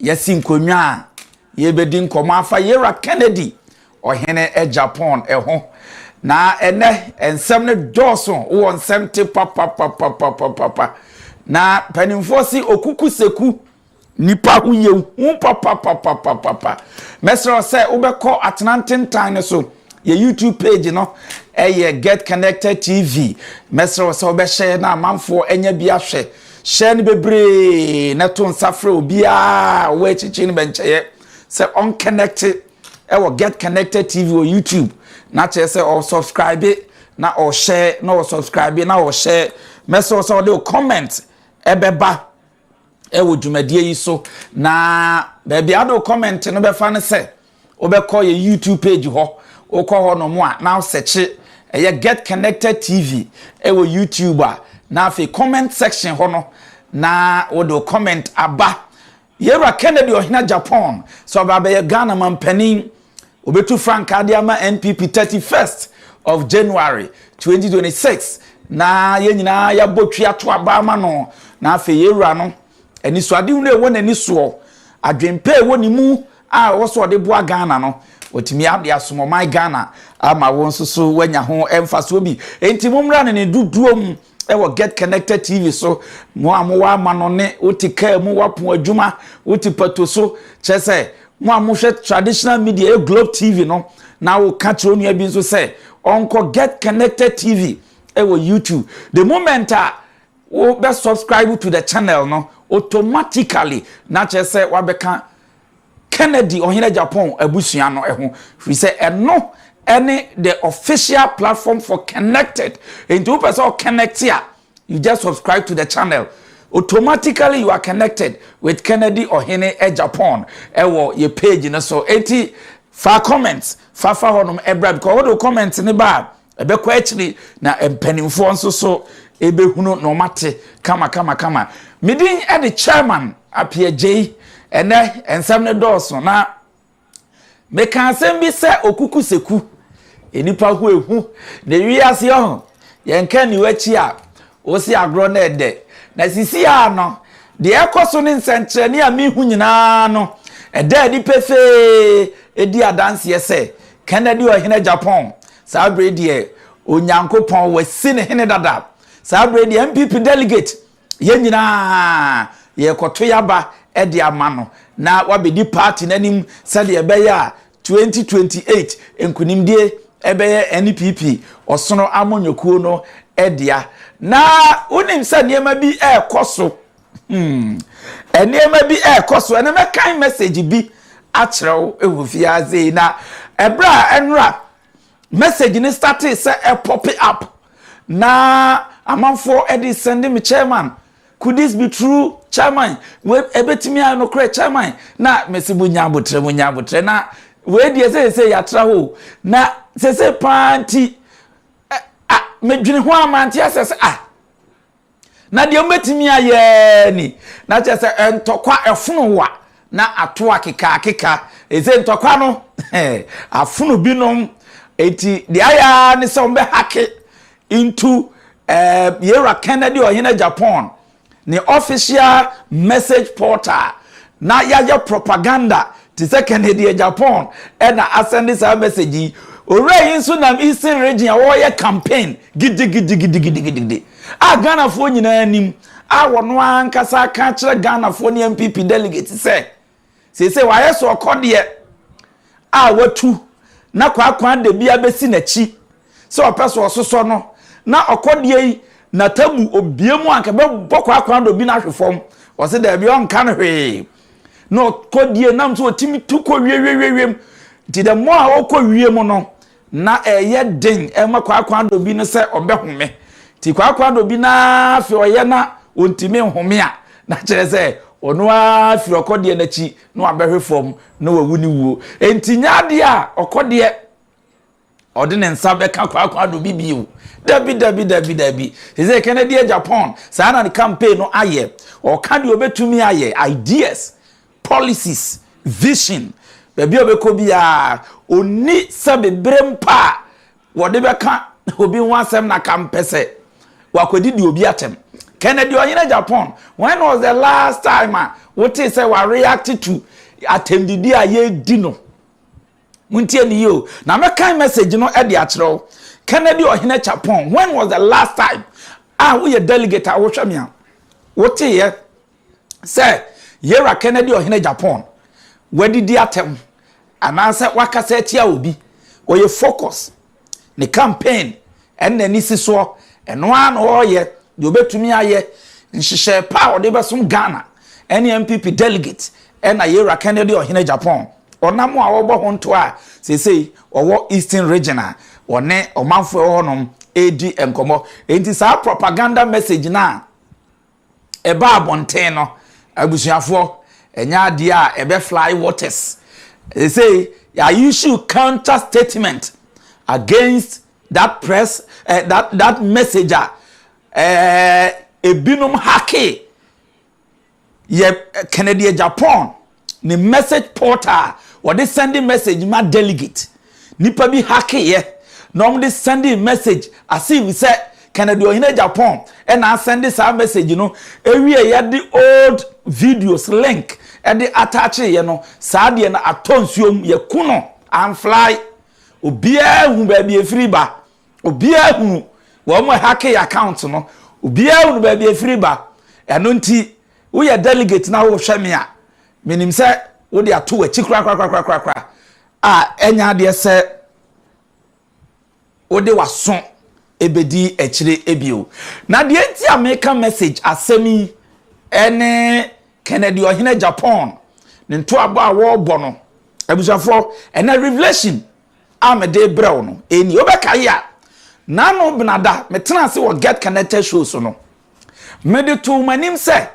Yɛasi nkonnwa a yɛrebɛdi nkɔmmɔ afa Yera Kennedy, ɔhene Japan ho. Na ɛnɛ, nsɛm no dɔɔso wɔ nsɛm te papapapapapapa. Na mpanimfoɔ se okuku seku nipa ho yɛ hu papapapapapa. Mɛsrɛ wo sɛ wobɛkɔ atena ntentan no so. Yɛ YouTube page no ɛyɛ Get Connected TV. Mɛsrɛ wo sɛ wobɛhyɛ na amanfoɔ anya bi ahwɛ. Hyɛ no bebree na to nsa frɛ obiara a ɔwɔ akyirikyiri no bɛnkyɛeɛ sɛ ɔnkɛnɛkte ɛwɔ Get Connected TV wɔ YouTube na kyerɛ sɛ ɔsubscribe na ɔhyɛ na ɔsubscribe na ɔhyɛ mɛsɛ sɛ ɔde comment ɛbɛba ɛwɔ dwumadie yi so na baabi ade comment no bɛfa no sɛ Wobɛkɔ yɛn YouTube page hɔ, wokɔ hɔnom a na wosɛkye ɛyɛ Get Connected TV wɔ YouTube a, na afei comment section hɔ no na wode wo comment aba. Yɛwura Kennedy Ɔhena Japan sɛ ɔba abɛyɛ Ghana mampanin, obetu frankaa de ama NPP 31st of January 2026 na yɛn nyinaa yɛabɔ twi ato aba ama no na afei yɛwura no anisoadehunu a ɛwɔ n'ani soɔ, adwempa a ɛwɔ ne mu, a ɔwɔ sɛ ɔde boa Ghana no, watumi de asom ɔman Ghana ama wɔn nso so wɔanya ho mfasoɔ bi. Enti mommra no ne dodoɔ mu wɔ Get Connected TV so, mo a mowɔ amanɔne, wote kaa mu, woapon adwuma, wote pato so, kyerɛ sɛ mo a mohwɛ traditional media, yɛ Globe TV no, na woka kyerɛ onua bi nso sɛ ɔnkɔ Get Connected TV wɔ YouTube. The moment a wobɛ subscribe to the channel no, automatically na kyerɛ sɛ wabɛka Kennedy Ɔhene Japan abusua no ho firi sɛ ɛno ne the official platform for connected nti wopɛ sɛ ɔconnect a you just subscribe to the channel automatically you are connected with Kennedy Ɔhene Japan ɛwɔ yɛ page no so eti fa comments fafa hɔnom ɛbra because wɔde comment ne ba a Ɛbɛkɔ akyiri na mpanimfoɔ nso so ɛbɛhunu na wɔate kama kama kama. Medin de Chairman Apiagyei. Ɛnɛ nsɛm no dɔɔso na meka asɛm bi sɛ okuku seku. Nnipa ho ehu na ewi ase ɔho. Yɛnka niwakyi a Wosi agorɔ na ɛdɛ. Na sisi ara no, deɛ ɛrekɔ so ne nsɛnkyerɛnne a mehu nyinaa no, ɛda adi pefee, ɛdi adanseɛ sɛ Kennedy Ɔhene Japan, saa berɛ yi deɛ, Onyankopɔn wasi no hene dada. Saa berɛ yi deɛ, NPP delegate, yɛn nyinaa, yɛrekɔto yɛn aba de ama no, na wabɛdi party no anim sɛdeɛ ɛbɛyɛ a 2028 nkunimdie bɛyɛ NPP ɔsono amanyɔkuo no dea. Na wonim sɛ nneɛma bi ɛrekɔ so. Hmm. Nneɛma bi ɛrekɔ so. Ɛna mɛkan message bi akyerɛ wo wɔ fiase na ɛberɛ a ɛnora message no startee sɛ ɛpɔpe up na amanfoɔ de sɛnde me chairman Could this be true chairman wei ɛbɛtumi ayɛ nokorɛ chairman na mesi mo nya abotrɛ mo nya abotrɛ na wei deɛ seesei yɛatra hɔ na seesei paa nti a medwene ho a mante asɛ sɛ ah na deɛ mobɛtumi ayɛ ni na kyerɛ sɛ ntɔkwa ɛfono wa na ato akeka akeka ɛsɛ ntɔkwa no afono binom eti deɛ ayɛ ne sɛ wɔbɛhake Into eh, Yera Kennedy Ɔhene Japan ne official message portal na yɛayɛ propaganda te sɛ Kennedy eh, Japan ɛna asɛnde saa message yi. Owura yi nso nam Eastern region a wɔreyɛ campaign gidigidigidigidigidi a Ghanafoɔ nyinaa nim a wɔn ankasa aka akyerɛ Ghanafoɔ ne NPP delegates sɛ Seesei wayɛ sɛ ɔkɔdeɛ a watu na kwaakwa da bi abɛsi n'akyi sɛ ɔpɛ so ɔsosɔ no na ɔkɔdeɛ yi na tabu obie mu anka bɛbɔ kwaakwa dɔ bi no ahwe fam ɔse daabi ɔnka no hwee na ɔkɔdeɛ nam sɛ ɔtumi tu kɔ wiewiewiem nti the more a ɔkɔ wie mu no Ná ɛyɛ den ma kwaakwaadɔ bi no sɛ ɔbɛhome. Enti kwaakwaadɔ bi no ara afei ɔyɛ na ontumi nhome a, na kyerɛ sɛ ɔno ara firi ɔkɔdeɛ no akyi na wabɛhwe fam na wawu ne wuo. Enti nyɛ adeɛ a ɔkɔdeɛ ɔde ne nsa bɛka kwaakwaadɔ bi bio. Dabi, dabi, dabi, dabi. Te sɛ Kennedy Agyapong, saa na ne campaign no ayɛ. Ɔka deɛ ɔbɛtumi ayɛ, ideas. Policies, vision, baabi a ɔbɛkɔ biara, ɔnni sɛbe berɛ mpo a wɔde bɛka obi ho asɛm na ka mpɛ sɛ wakɔdidi obi atɛm. Kennedy ɔhene Japan, when was the last time a wotee sɛ wa react to atɛmdidi a yɛredi no? Montie ne yie o, na mɛkan message no de akyerɛ wo. Kennedy ɔhene Japan, when was the last time a woyɛ delegate a wohwɛ me a woteeɛ sɛ Yɛwura Kennedy Ɔhene Japan wadidi atɛm anaasɛ wakasa atia obi. Ɔyɛ focus. Ne campaign ɛne n'ani si soɔ. Ɛno ara na ɔreyɛ deɛ ɔbɛtumi ayɛ. Nhyehyɛɛ pa a ɔde bɛsom Ghana ɛne NPP delegate ɛna Yɛwura Kennedy Ɔhene Japan. Ɔnam a ɔrebɔ ho ntoa a seesei ɔwɔ Eastern Region a ɔne ɔmanfoɔ ɛwɔ hɔnom ɛredi nkɔmmɔ. Enti saa propaganda message no a. ɛba abɔnten no, abusuafoɔ, ɛnyɛ adeɛ a ɛbɛ fly waters. Ɛsei, yɛ issue counter statement against that press, uh, that, that message a uh, ebinom hake yɛ Kennedy Agyapong ne message portal a wɔde sɛnde message ma delegate. Nnipa bi hakeeɛ na wɔde sɛndee message as if sɛ Kennedy Ɔhene Agyapong na asɛnde saa message no wieeɛ de old videos link de ataacheeɛ no, saa deɛ no atɔ nsuo mu, yɛaku no amfly. Obiara hu baabi ɛfiri ba. Obiara hunu wɔn a ɛhakee account no. Obiara hunu baabi ɛfiri ba. Ɛno nti Woyɛ delegate na worehwɛ me a, menim sɛ wode ato w'akyi korakorakorakorakoraa a ɛnyɛ adeɛ sɛ wode w'aso ɛbɛdi akyire bio. Na deɛ nti a meka message asɛm yi ne Kennedy Ɔhene Japan ne ntoabɔ a wɔrebɔ no. Abusuafoɔ, ɛnɛ revelation a mede brɛ wo no ɛni. Wobɛkae a, Nano Benada, metena ase wɔ Get Connected show so no, Mede too m'anim sɛ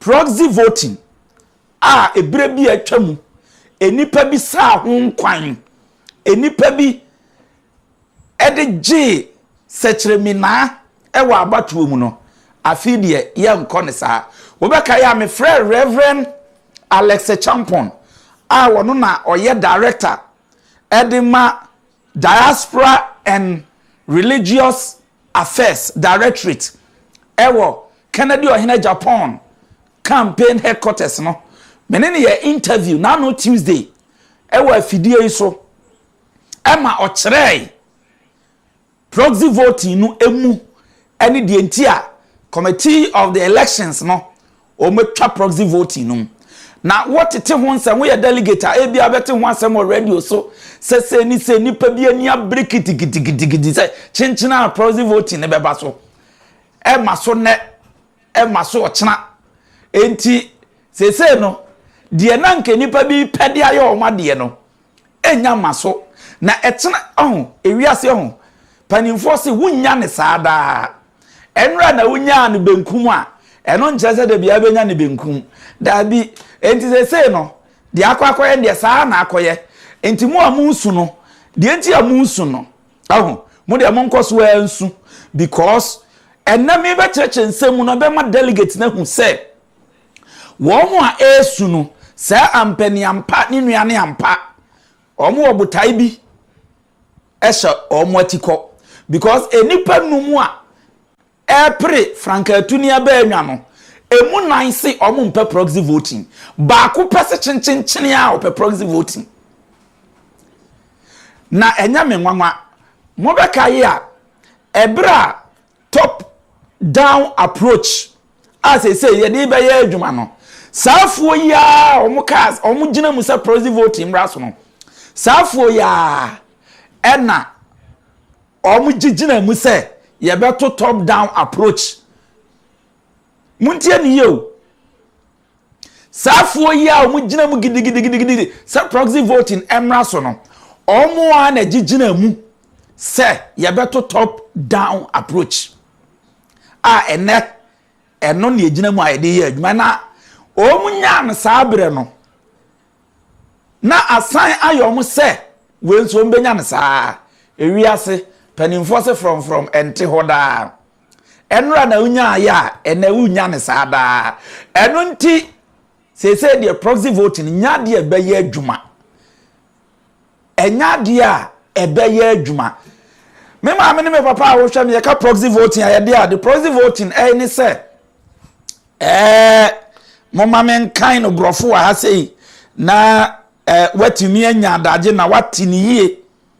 proxy voting a ebere bi a atwa mu nnipa bi saa ho nkwan, nnipa bi de gyee sɛkyerɛminaa wɔ abatoɔ mu no, afei deɛ yɛnkɔ ne saa. Wobɛka yɛ a mefrɛ Reverend Alex Champon a wɔno na ɔyɛ director ɛde ma Diaspora and Religious Affairs Directorate wɔ Kennedy Ɔhene Japan Campaign Headquarters no, me ne no yɛ interview na ano Tuesday wɔ afidie yi so ma ɔkyerɛɛe proxy voting no mu ne deɛ nti a Committee of the Elections no Wɔatwa proxy voting no mu na wɔtete ho nsɛm. Woyɛ delegate a, ebia wobɛte ho asɛm wɔ radio so sɛ sei ne sei, nnipa bi ani abere kitikitikiti sɛ kyenkyen ara proxy voting no bɛba so. Ɛma so nnɛ, ɛma so ɔkyena. Enti seesei no, deɛ na anka nnipa bi pɛ de ayɛ wɔn adeɛ no, ɛnnya mma so, na ɛtena ɔho, ewiase ɔho. Mpanimfoɔ se wonnya no saa daa. Ɛnora na wonyaa no benkum a, ɛno nkyerɛ sɛ da biara wobɛnya no benkum. Daabi. Enti seesei no, deɛ akɔ akɔyɛ no deɛ, saa ara na akɔyɛ. Enti mo a moresu no, deɛ nti a moresu no, ɔho, mo deɛ monkɔ so ara nsu. Because ɛnnɛ merebɛkyerɛkyerɛ nsɛm mu no bɛma delegates no ahu sɛ, Wɔn a ɛresu no, sɛ ampa ni ampa ne nua ne ampa, wɔn wɔ botae bi hyɛ wɔn atikɔ. Because nnipa nnum a ɛrepere frankaatuni abaanwa no, ɛmu nnan se wɔn mpɛ proxy voting. Baako pɛ se kyenkyenkyene a ɔpɛ proxy voting. Na ɛnyɛ me nwanwa. Mobɛkae a, ɛberɛ a top down approach a seesei yɛde bɛyɛ adwuma no saa afuo yi ara a wɔn kaa wɔn gyina mu sɛ proxy voting mmra so no saa afuo yi ara ɛna wɔn gye gyina mu sɛ yɛbɛto top down approach muntie ne yie o. Saa foɔ yi a wɔn gyina mu gidigidigidigidi sɛ proxy voting mmra so no, wɔn a na gyegyina mu sɛ yɛbɛto top down approach a ɛnɛ ɛno na yɛgyina mu a yɛde yɛ adwuma na wɔn nyaa no saa berɛ no na asan ayɛ wɔn sɛ wei nso wɔn bɛnya no saa ewiase mpanimfoɔ se frɔmfrɔm ɛnte hɔ daa. Ɛnora na wonyaeɛ a, ɛnɛ wonya no saa daa. Ɛno nti, seesei deɛ proxy vote no nya adeɛ ɛbɛyɛ adwuma. Ɛnya adeɛ a ɛbɛyɛ adwuma. Me maame ne me papa a wohwɛ no yɛka proxy voting a yɛde ade proxy voting ɛyɛ ne sɛ ɛɛ mo ma me nkan no borɔfo wɔ ha sei na ɛɛ watumi anya adagye na wate ne yie.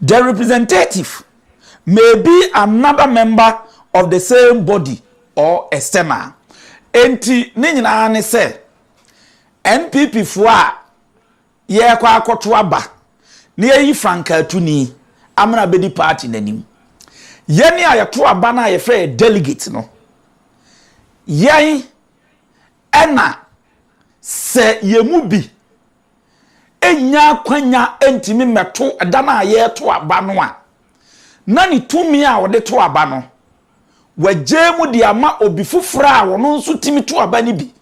The representative may be another member of the same body or external. Enti ne nyinaa ne sɛ NPP foɔ a yɛrekɔ akɔto aba na yɛyi Frank Atuni amena abɛdi party n'anim. Yɛne a yɛto aba no a yɛfrɛ yɛ delegate no, yɛn ɛna sɛ yɛn mu bi nnya akwanya ntumi mmɛto da no a yɛreto aba no a, na ne tumi a ɔde to aba no, wagyaa mu de ama obi foforɔ a ɔno nso tumi to aba no bi.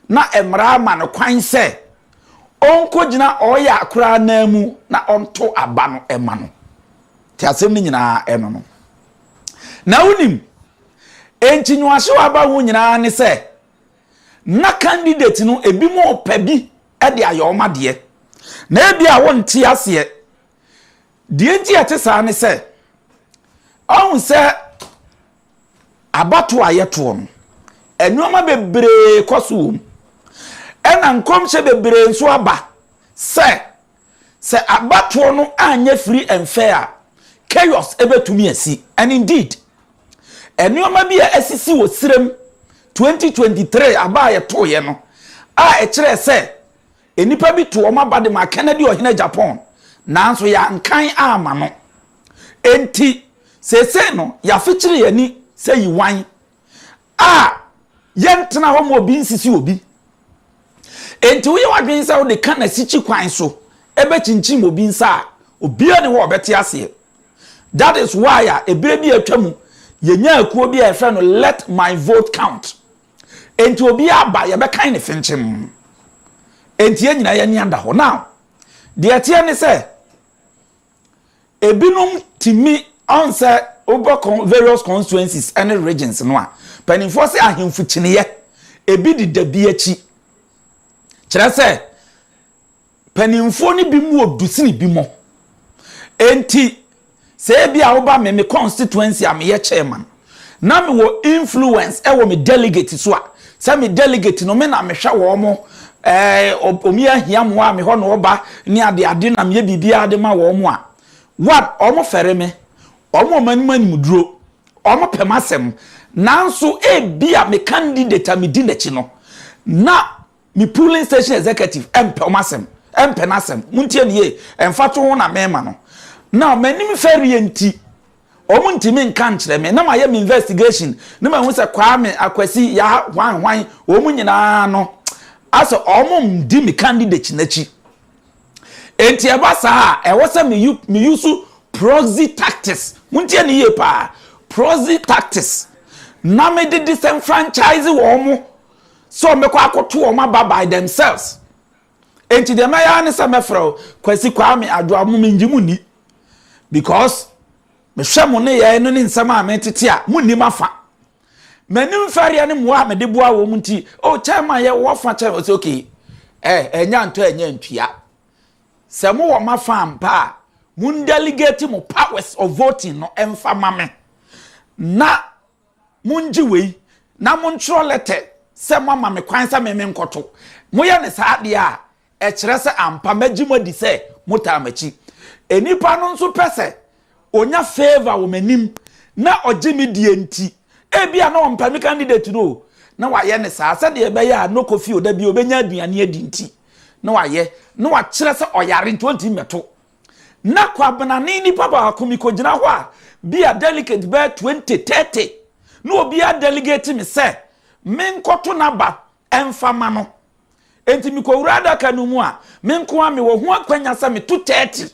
Na mmara ama no kwan sɛ ɔnkɔgyina ɔyɛ akoraa no ara mu na ɔnto aba no ma no. Te asɛm no nyinaa ɛno no. Na wonim, enti nyoahyew aba ho nyinaa ne sɛ, Na candidates no ebinom repɛ bi de ayɛ wɔn adeɛ. Na ebia wonte aseɛ. Deɛ nti a ɛte saa ne sɛ, ɔhu sɛ abatoɔ a yɛtoɔ no, nneɛma bebree kɔ so wɔ mu. Ɛna nkɔmhyɛ bebree nso aba sɛ Sɛ abatoɔ no anyɛ free and fair a, chaos bɛtumi asi. And indeed, nneɛma bi a asisi wɔ serɛ mu 2023 aba a yɛtoeɛ no a ɛkyerɛɛ sɛ nnipa bi too wɔn aba de maa Kennedy Ɔhene Japan nanso yɛankan amma no. Enti, seesei no, yɛafekyere yɛn ani sɛ Yiwan A, Yɛntena hɔ ma obi nsisi obi. Enti woyɛ w'adwene sɛ wode ka na sikyi kwan so bɛkyinkyim obi nsa a, obiara nni hɔ a ɔbɛte aseɛ. That is why a ɛberɛ bi a atwa mu, yɛnyaa akuo bi a yɛfrɛ no Let My Vote Count. Enti obiara aba, yɛbɛkan ne fenkyem. Enti yɛn nyinaa yɛn ani ada hɔ. Now, deɛ ɛteɛ ne sɛ, Ebinom tumi ahu sɛ wokɔ kɔn various constituencies ne regions no a, mpanimfoɔ sɛ ahemfo kyiniiɛ, ebi deda bi akyi. Kyerɛ sɛ, mpanimfoɔ no bi mu wɔ du sene bi mɔ. Enti, sɛ ebi a woba me me constituency a meyɛ chairman, Na me wɔ influence ɛwɔ me delegate so a sɛ me delegate no me na me hwɛ wɔn mo ɛɛ omi ahia mo a me hɔ na ɔba ne ade ade na me yɛ biribi a de ma wɔn mo a one wɔn fɛre me wɔn wɔn anim anim duro wɔn pɛ m'asɛm nanso ebi a me candidate a me di n'akyi no na Me polling station executive ɛmpɛ wɔn asɛm, ɛmpɛ n'asɛm. Montie no yie, mfatoho na merema no. Now, m'anim fɛreɛ nti, wɔntumi nka nkyerɛ me. Na mayɛ me investigation na mahu sɛ Kwame, Akwasi, Yah, hwan hwan, wɔn nyinaa no, asɛ wɔredi me candidate no akyi. Enti ɛba saa a, ɛwɔ sɛ me use proxy tactics. Montie no yie paa, proxy tactics. Na mede disenfranchise wɔn. sɛ wɔbɛkɔ akɔto wɔn aba by themselves nti deɛ mɛyɛ ne sɛ mɛfrɛ wo kwasi kwame adwoa mo mengye mo ni because mehwɛ mo ne yɛn no ne nsɛm a metete a mo nnim afa m'anim fɛreɛ ne mmoa a mede boa wɔn nti o oh, kyɛn ma yɛ wɔfa kyɛn ɔsɛ okay ɛ eh, ɛnya ntɔ ɛnya ntua sɛ mo wɔ ma fa mpa a mo delegate mo powers of voting no ɛmfa ma me na Mongye wei, na montwerɛ lɛtɛ sɛ moama me kwan sɛ me menkɔto. Moyɛ no saa deɛ a, ɛkyerɛ sɛ ampa magye mo adi sɛ motaa m'akyi. Nnipa no nso pɛ sɛ ɔnya favour wɔ m'anim na ɔgye me die nti, ebia na ɔmpɛ me candidate no o, na wayɛ no saa sɛdeɛ ɛbɛyɛ a no Kofi Oda bio bɛnya aduane adi nti na wayɛ, na wakyerɛ sɛ ɔyare nti ɔntumi mmɛto. Na Kwabena ne nipa baako mikogyina hɔ a bi a delegate bɛyɛ twenty, thirty na obiara delegate me sɛ menkɔto n'aba mfa mma no. Enti mikowura adaka no mu a, me nko ara mewɔ ho akwanya sɛ meto thirty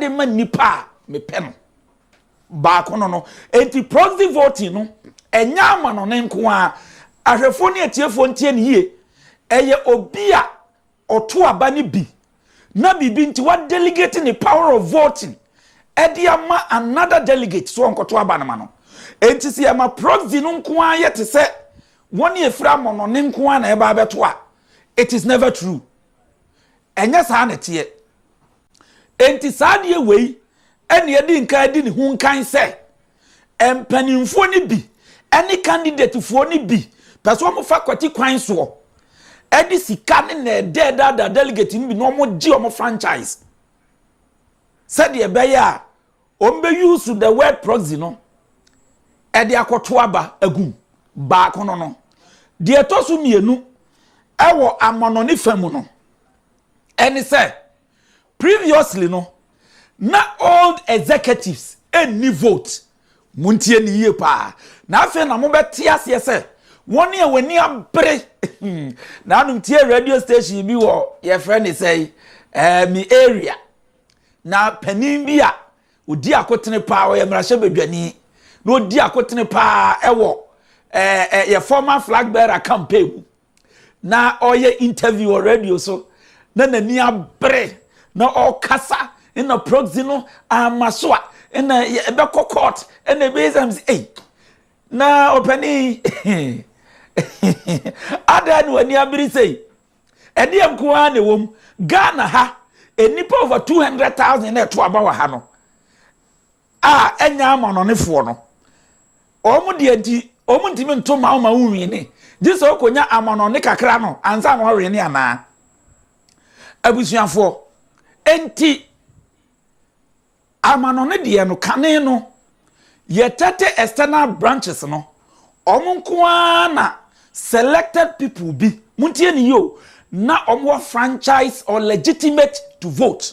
de ma nipa a mepɛ no. Baako no no. Enti proxy voting no, ɛnyɛ amanɔne nko ara. Ahwɛfoɔ ne atiefoɔ ntie no yie. Ɛyɛ obi a Ɔto aba no bi na biribi nti wa delegate ne power of voting ɛde ama another delegate so ɔnkɔto aba no ma no. Enti sɛ yɛma proxy no nko ara yɛ te sɛ wɔn a ɛfiri amɔnɔne nko ara na ɛba abɛto a, it is never true. Ɛnyɛ saa na ɛteɛ. Enti saa adeɛ wei ɛne ɛdi nkan di ne ho nkan sɛ mpanimfoɔ no bi ɛne kandidatefoɔ no bi pɛ sɛ wɔn fa kwati kwan soɔ ɛde sika ne na ɛdɛɛdaadaa delegate no bi na wɔn gye wɔn franchise sɛdeɛ ɛbɛyɛ a wɔn bɛ use the word proxy no ɛde akɔto aba agum baako no no deɛ ɛtɔ so mmienu ɛwɔ amɔnɔ ne fa mu no. Ɛne sɛ, previously no, na old executives nni vote. Montie no yie paa. Na afei na mobɛte aseɛ sɛ, wɔn a wɔn ani abere. Nanom tie radio station bi wɔ yɛfrɛ ne sɛ eh, me area. Na panin bi a ɔdi akotene paa, ɔyɛ mmarahyɛbadwani, na ɔdi akotene paa ɛwɔ eh, eh, yɛ former flag bearer campaign mu. na ɔreyɛ interview wɔ radio so na n'ani abere na ɔrekasa na proxy no ama so a na ɛbɛkɔ court na ɛbɛyɛ sɛ sɛ ei na ɔpani adan na w'ani abere sei ɛdeɛ nko ara na ɛwɔ mu ghana ha nnipa over 200,000 na ɛto aba wɔ ha no a ɛnyɛ amannɔnefoɔ no, wɔn deɛ nti, wɔn ntumi nto ma ma wonwene, gye sɛ ɔkɔnya amannɔne kakra no ansa na ɔwene anaa? Abusuafoɔ, enti amannɔne deɛ no, kane no, yɛtɛte external branches no, wɔn nko ara na selected people bi, montie ne yie o, na wɔn wɔ franchise or legitimate to vote.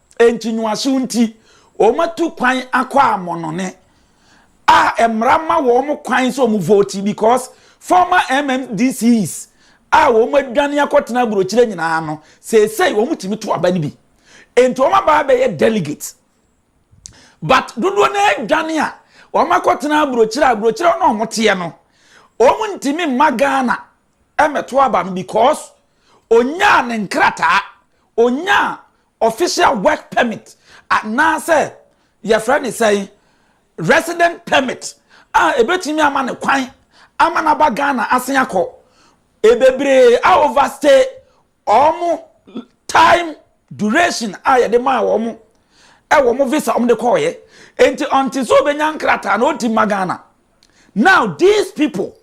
Enti nwoaso nti, wɔatu kwan akɔ amɔnɔne a mmara ma wɔn kwan sɛ wɔn vote because former MMDCs a wɔn adwane akɔtena aburokyire nyinaa no, seesei wɔn tumi to aba no bi. Enti wɔn aba abɛyɛ delegate. But dodoɔ no adwane a wɔn akɔtena aburokyire a aburokyire na wɔn teɛ no, wɔn ntumi mma Ghana mmɛto aba no because onyaa ne nkrataa, onyaa Official work permit anaasɛ yɛfrɛ no sɛn, resident permit a ɛbɛtumi ama no kwan ama no aba Ghana asen akɔ. Ɛbebree a overstay wɔn time duration a yɛde maa wɔn ɛwɔ wɔn visa wɔn de kɔɔyɛ. Enti ɔnte sɛ ɔbɛnya nkrataa na ɔnti mma Ghana. Now these people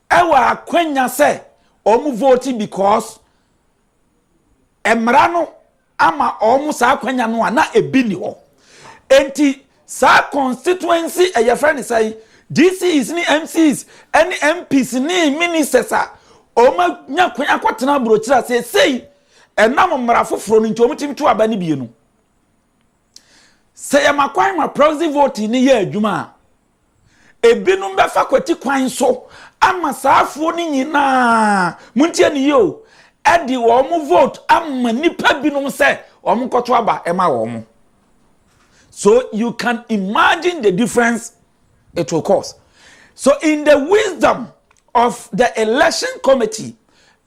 ɛwɔ akwanya sɛ wɔn vote because mmara no ama wɔn saa akwanya no a na ebi ni hɔ enti saa constituency ɛyɛ fɛ ne sɛn GCs ne MCs ɛne MPs ne ministers a wɔn anya kwan akɔtena aburokyerɛ a seesei ɛnam mmara foforɔ no nti wɔn tumi to aba ne bie no sɛ yɛma kwan ma proxy voting ne yɛ adwuma a. Ebinom bɛfa kwati kwan so ama saa afoɔ no nyinaa, montie ne yie o, ɛde wɔn vote ama nnipa binom sɛ wɔn nkɔto aba ɛma wɔn. So you can imagine the difference it will cause. So in the wisdom of the election committee,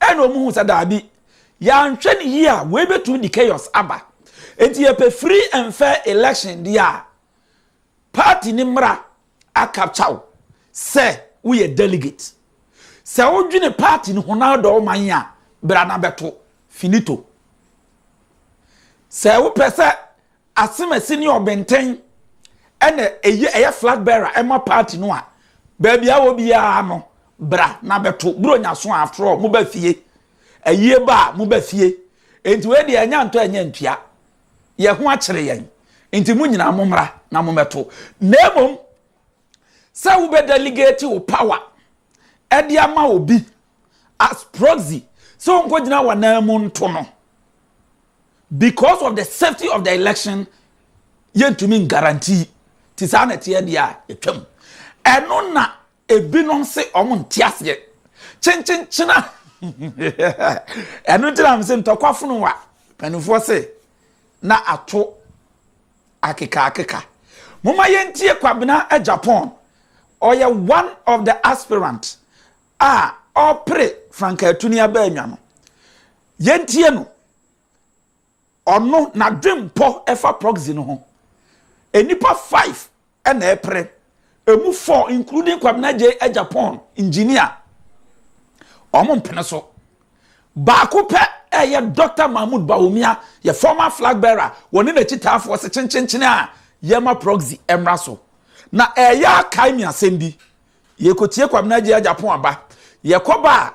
ɛna wɔn hu sɛ daabi, yɛanhwɛ ne yie a, wɔbɛtumi de chaos aba. Enti yɛpɛ free and fair election deɛ a, Party ne mmara a capture wo sɛ woyɛ delegate. Sɛ wo dwene party no ho na wodɔ wo man a, bra na bɛto. Finito. Sɛ wo pɛ sɛ Asemasi ne Ɔbɛntɛn ɛna ɛyɛ ɛyɛ flag bearer ɛma party no a, baabi a wɔ biara no, bra na bɛto. Buronya so a after all, mo ba fie. Ayie ba a, mo ba fie. Enti wei deɛ ɛnyɛ antɔ ɛnyɛ antua. yɛn ho akyere yɛn, nti mo nyinaa mommra na mommɛto. Na mmom sɛ wobɛ delegate wo power ɛde ama obi as proxy sɛ ɔnkɔgyina w'anan mu nto no because of the safety of the election yɛntumi guarantee ti saa na ɛteɛ deɛ a ɛtwam ɛno na Ebinom se wɔn nte aseɛ. Kyenkyenkyena. Ɛno nti na mese ntɔkwa funu wa. Mpanimfoɔ se na ato akekaakeka. Moma yɛntie Kwabena Agyapong. Ɔyɛ one of the aspirant a ɔpere Frank Atuni Abaanwa no. Yɛntie no Ɔno n'adwenpɔ ɛfa proxy no ho. Nnipa five ɛna ɛpere. Ɛmu four including Kwabena Gyei Agyapong engineer wɔn mpene so. Baako pɛ ɛyɛ Doctor Mahmood Bawumia yɛ former flag bearer wɔne n'akyitaafoɔ se kyenkyenkyene a yɛma proxy ɛmmra so. Na ɛyɛ a kae me asɛm bi. Yɛkɔtie Kwabena Gyei Agyapong aba. Yɛkɔba a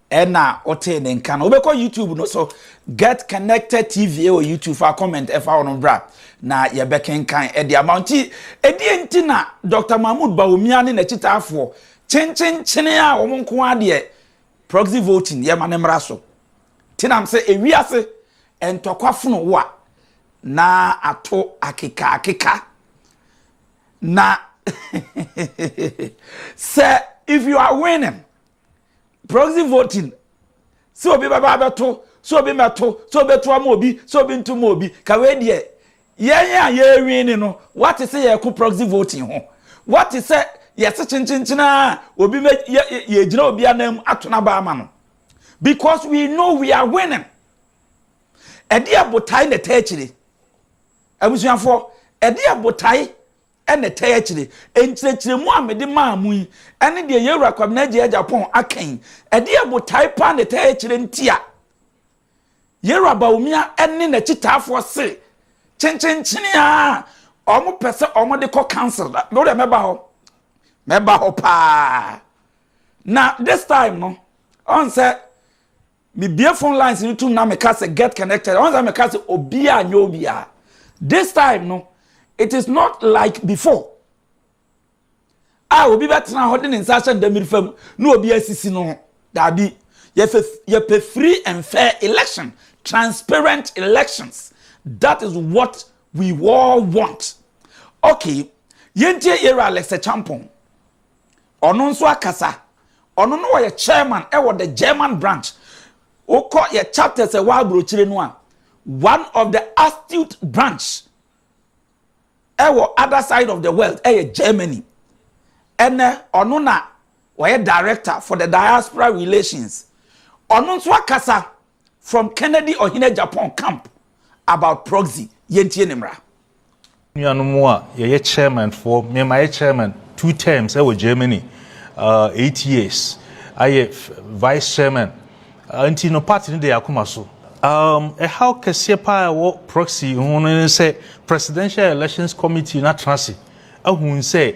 Ɛna wotee ne nka no wobɛkɔ youtube no so get connected tv ɛwɔ youtube fa comment ɛfa hɔ no bra na yɛbɛkenkan ɛde ama nti ɛdeɛ nti na dr mahmood bawumia ne n'akyitaafoɔ kyenkyenkyene a wɔn nko adeɛ proxy voting yɛma ne mmara so nti nam sɛ ewiase ntɔkwafono wo a na ato akeka akeka na sɛ if you are winning proxy voting sɛ obi bɛba abɛto sɛ obi mɛto sɛ obi to ama obi sɛ obi nto ma obi ka wei deɛ yɛn a yɛrewin ne no wate sɛ yɛko proxy voting ho wate sɛ yɛse kyenkyenkyen a obi mɛ yɛgyina obi anan mu ato no aba ama no because we know we are winning ɛde abotae na ɛta akyire abusuafoɔ ɛde abotae Ɛna ɛtae akyire. Nkyerɛkyerɛmu a mede maa mo yi ne deɛ yɛn Wura Kwabena Agyei Agyapong aka yi. Ɛdeɛn botae paa na ɛtae akyire nti a yɛn Wura Bawumia ne n'akyitaafoɔ se kyenkyenkyene ara a wɔpɛ sɛ wɔde kɔ council da? Me deɛ mɛba hɔ. Mɛba hɔ paa. Na this time no, ɔn sɛ Me bue phone lines no tum na me ka sɛ get connected. Ɔn sɛ me ka sɛ obiara nyɛ obiara. This time no, it is not like before. A obi bɛtena hɔ de ne nsa ahyɛ ndamiri fa mu na obi asisi no ho. Daabi. Yɛfɛ yɛpɛ free and fair election, transparent elections. That is what we all want. Okay, yɛntie Yɛwura Alex Acheampong. Ɔno nso akasa. Ɔno no ɔyɛ chairman ɛwɔ the German branch. Wokɔ yɛ chapters ɛwɔ aburokyire no a, one of the astute branch ɛwɔ other side of the world ɛyɛ Germany. Ɛnɛ ɔno na ɔyɛ director for the diaspora relations. Ɔno nso akasa. From Kennedy Ɔhene Agyapong Camp about Proxy Yɛntie Ne Mmara. Me nuanom a yɛyɛ chairman foɔ, me mayɛ chairman two terms ɛwɔ Germany, uh, eight years, ayɛ vice chairman, uh, nti no party no de akoma so. Um, ɛhaw kɛseɛ paa ɛwɔ proxy ho no ne sɛ presidential elections committee no atena ase ahu sɛ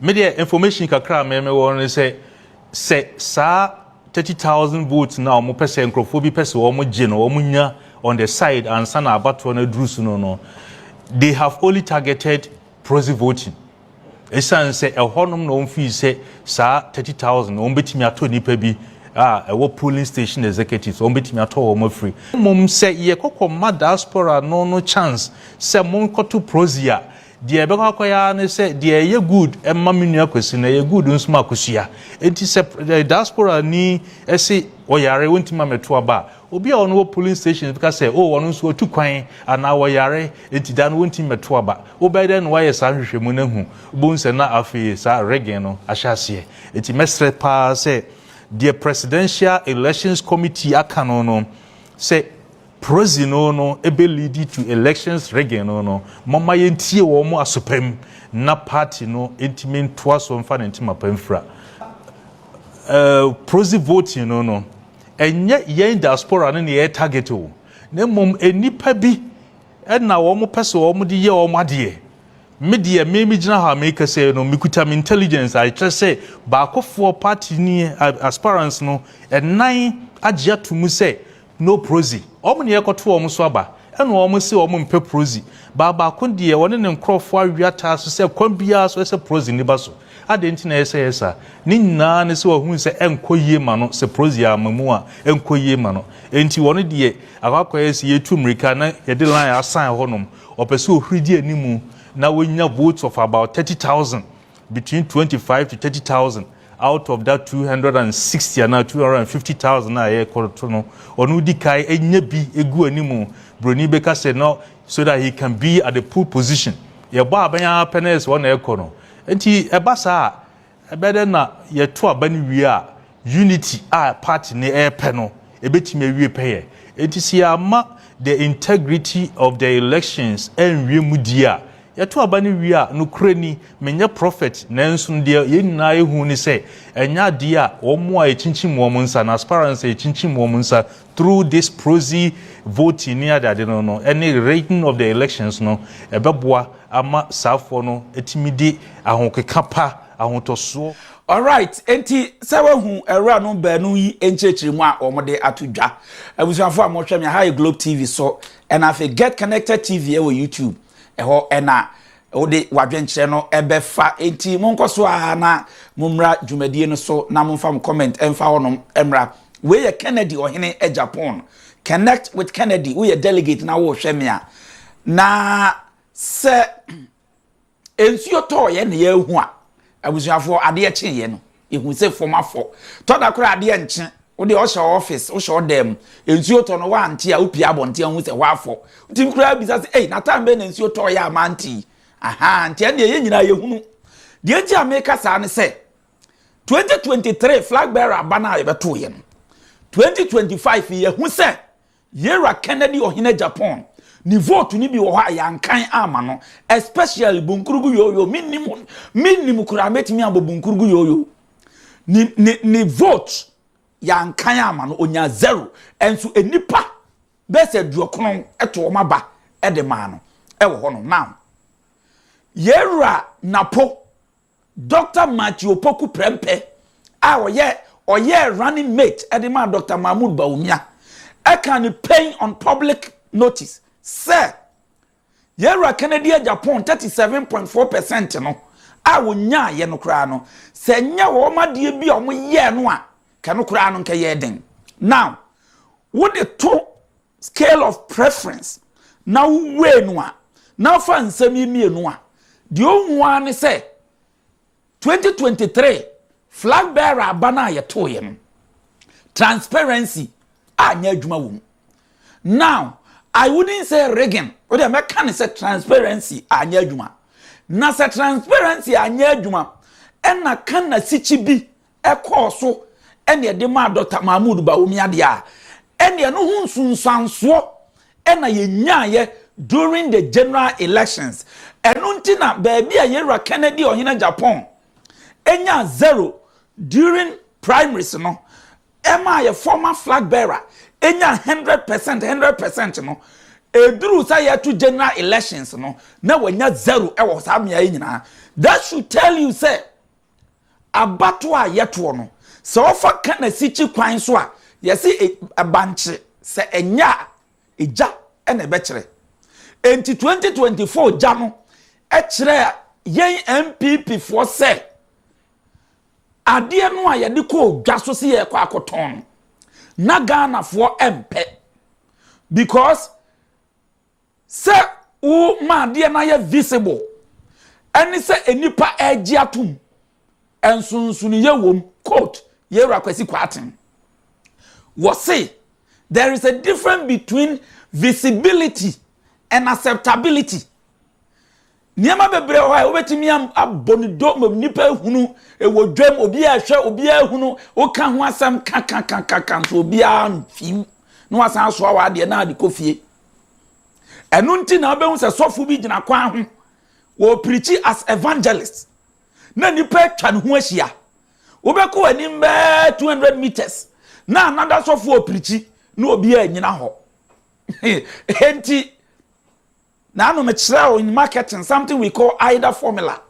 Me deɛ information kakra a meme wɔ no ne sɛ, sɛ saa thirty thousand votes no a wɔn pɛ sɛ nkurɔfoɔ bi pɛ sɛ wɔn gye no wɔn nya on the side ansa na abatoɔ no aduru so no no, they have only targeted proxy voting. Esiane sɛ ɛhɔnom na wɔn fii sɛ saa thirty thousand wɔn betumi atɔ nipa bi a ɛwɔ polling station executives wɔn betumi atɔ wɔn afiri. Mmom sɛ yɛkɔkɔ ma diaspora no no chance sɛ monkɔto proxy a. Deɛ ɛbɛkɔ akɔyɛ ara ne sɛ deɛ ɛyɛ good ma me nua Kwasi no ɛyɛ good nso ma Akosua. Enti sɛ diasporani se ɔyare ɔntumi ma mɛto aba a, obi a ɔno wɔ polling stations bɛka sɛ oh ɔno nso ɔtu kwan anaa ɔyare enti da no ɔntumi mɛto aba. Wobɛyɛ dɛn na woayɛ saa nhwehwɛmu no ahu? Wobɛhu sɛ na afei saa rigging no ahyɛ aseɛ. Enti mɛsrɛ pa ara sɛ deɛ Presidential Elections Committee aka no no sɛ Proxy no no ɛbɛ leadi to elections rigging no no, momma yɛntie wɔn asopa mu na party no ntumi ntoa so mfa ne ntoma pa mfira. Proxy voting no no, ɛnyɛ yɛn diaspora no na yɛ target o, na mmom nnipa bi na wɔn pɛ sɛ wɔn de yɛ wɔn adeɛ. Me deɛ me me gyina hɔ a me kasa yi no, me kuta me intelligence a ɛkyerɛ sɛ baakofoɔ party ni aspirants no nnan agye ato mu sɛ No prozy. Wɔn na yɛrekɔto wɔn so aba. Ɛna wɔn se wɔn mpɛ prozy. Baa baako deɛ wɔne ne nkorɔfoɔ awe ataa so sɛ kwan biara so ɛsɛ prozy no ba so. Adɛn nti na ɛyɛ sɛ ɛyɛ saa? Ne nyinaa ne sɛ wɔahunu sɛ ɛnkɔ yie ma no sɛ prozy amma mu a ɛnkɔ yie ma no. Enti wɔn deɛ akɔ akɔyɛ sɛ yɛretu mmirika na yɛde line asan hɔnom. Wɔpɛ sɛ wɔhuri di anim na wɔnya votes of about thirty thousand. between twenty five to thirty thousand out of that two hundred and sixty anaa two hundred and fifty thousand a yɛrekɔto no ɔno di kan enya bi egu anim broni bɛka sɛ no so that he can be at the pool position yɛbɔ abɛn ara pɛ na yɛ sɛ ɔna ɛkɔ no nti ɛba saa a ɛbɛyɛ dɛ na yɛto aba no wie a Unity a party no repɛ no ɛbɛtumi awie pɛyɛ. Ɛnti sɛ yɛamma the integrity of the elections anwie mu die a, yɛto aba no wie a, nokorɛ ni, menyɛ prophet nanso deɛ yɛn nyinaa ɛhu ne sɛ ɛnyɛ adeɛ a wɔn a ɛkyinkyim wɔn nsa no, as far as ɛkyinkyim wɔn nsa through this proxy voting ne adeade no no ɛne rigging of the elections no ɛbɛboa ama saafoɔ no atumi de ahokeka pa, ahotɔsoɔ. Alright, enti sɛ wahu awuranom baanu yi nkyerɛkyerɛmu a wɔde ato dwa. Abusuafo a mohwɛ me, ha yɛ Globe TV so, ɛna afei Get Connected TV ɛwɔ YouTube. Ɛhɔ ɛna wode w'adwenkyerɛ no ɛbɛfa. Enti monkɔ so a na mommra dwumadie no so na momfa mo comment ɛmfa hɔnom mmra. Wei yɛ Kennedy ɔhene agya pon. Connect with Kennedy, woyɛ delegate na wohwɛ me a. Na sɛ Nsuo tɔɔ yɛn na yɛahu a, abusuafoɔ adeɛ kyee yɛn no, yɛhu sɛ fam afɔ. Tɔ da koraa adeɛ nkye, wo deɛ ɔhyɛ office, wohyɛ wo dan mu, nsuo tɔ no woante a, wopie abɔnten a wohu sɛ hɔ afɔ. Wotumi koraa bisa sɛ, ei, na time bɛn na nsuo tɔɔ yɛ a mante yi? Ahaa, nti ɛnneɛ yɛn nyinaa yɛhunu. Deɛ nti a meka saa ne sɛ, 2023 flag bearer aba no a yɛbɛtoo yɛn no, 2025 yi yɛahu sɛ Yera Kennedy Ɔhene Japan ne vote no bi wɔ hɔ a yɛankan amma no especially Bunkurugu Yoyo mennim ho mennim koraa mɛtumi abɔ Bunkurugu Yoyo ne ne ne vote yɛankan amma no ɔnya zero ɛnso nnipa bɛyɛ sɛ aduɔkono ɛto wɔn aba ɛde maa no ɛwɔ hɔ no now Yera Napo Dɔkta Matthew Opoku Prempeh a ɔyɛ ɔyɛɛ running mate de maa Dɔkta Mahmood Bawumia kaa no pen on public notice sɛ, Yɛn Wura Kennedy agya pon thirty seven point four per cent no a wɔnyaaeɛ no koraa no, sɛ ɛnyɛ wɔn adeɛ bi a wɔyɛɛ no a, nka ɛno koraa no nka ɛyɛɛ den. Now, wode to scale of preference, na wo weigh no a, na fa nsɛm yi mmienu a, deɛ ɔhu ara ne sɛ 2023 flag bearer aba no a yɛtoeɛ no, transparency a nyɛ adwuma wɔ mu. Now, I wouldn't say rigging, wode mɛka ne sɛ transparency a nyɛ adwuma. Na sɛ transparency a nyɛ adwuma, ɛna ka na sikyi bi ɛkɔɔ so ne ɛde maa Dɔkta Mahmood Bawumia deɛ a, ɛnneɛ ɛno ho nsunsuansoɔ na yɛnyaeɛ during the general elections. Ɛno nti na baabi a Yɛn Wura Kennedy Ɔhene Agyapong nyaa zero during primaries no, ɛmaa yɛ former flag bearer nyaa hundred percent, hundred percent no, ɛduruu sɛ yɛto general elections no, na wanya zero wɔ saa mmeaeɛ nyinaa. That should tell you sɛ, Abatoɔ a yɛtoɔ no, sɛ wɔfa ka no asikyi kwan so a, yɛse bankye, sɛ ɛnyɛ a, gya na ɛbɛkyerɛ. Enti 2024 gya no kyerɛɛ yɛn NPP foɔ sɛ, adeɛ no a yɛde kɔɔ dwa so se yɛrekɔ akɔtɔn no, na Ghanafoɔ mpɛ. Because Sɛ wo ma adeɛ no ayɛ visible ɛne sɛ nnipa ɛregye atom, nsonsonoeɛ wɔ mu. Quote, Yɛwura Kwasi Kwarteng. Wɔse, There is a difference between visibility and acceptability. Nneɛma bebree wɔ hɔ a wobɛtumi abɔ no do ma nnipa ahunu, wɔ dwam, obi a ɛhwɛ, obi a ahunu, woka ho asɛm kakakakaka nso obi a mfiw, na wasan asoa wɔ adeɛ na ade kɔ fie. Ɛno nti na wobɛhu sɛ sɔfo bi gyina kwan ho, wɔpirikyi as evangelist, na nnipa atwa ne ho ahyia. Wobɛkɔ anim bɛɛ 200 meters, na anada sɔfo ɔpirikyi, na obi a nyina hɔ. Enti, Na ano no kyerɛw in marketing something we call AIDA formula,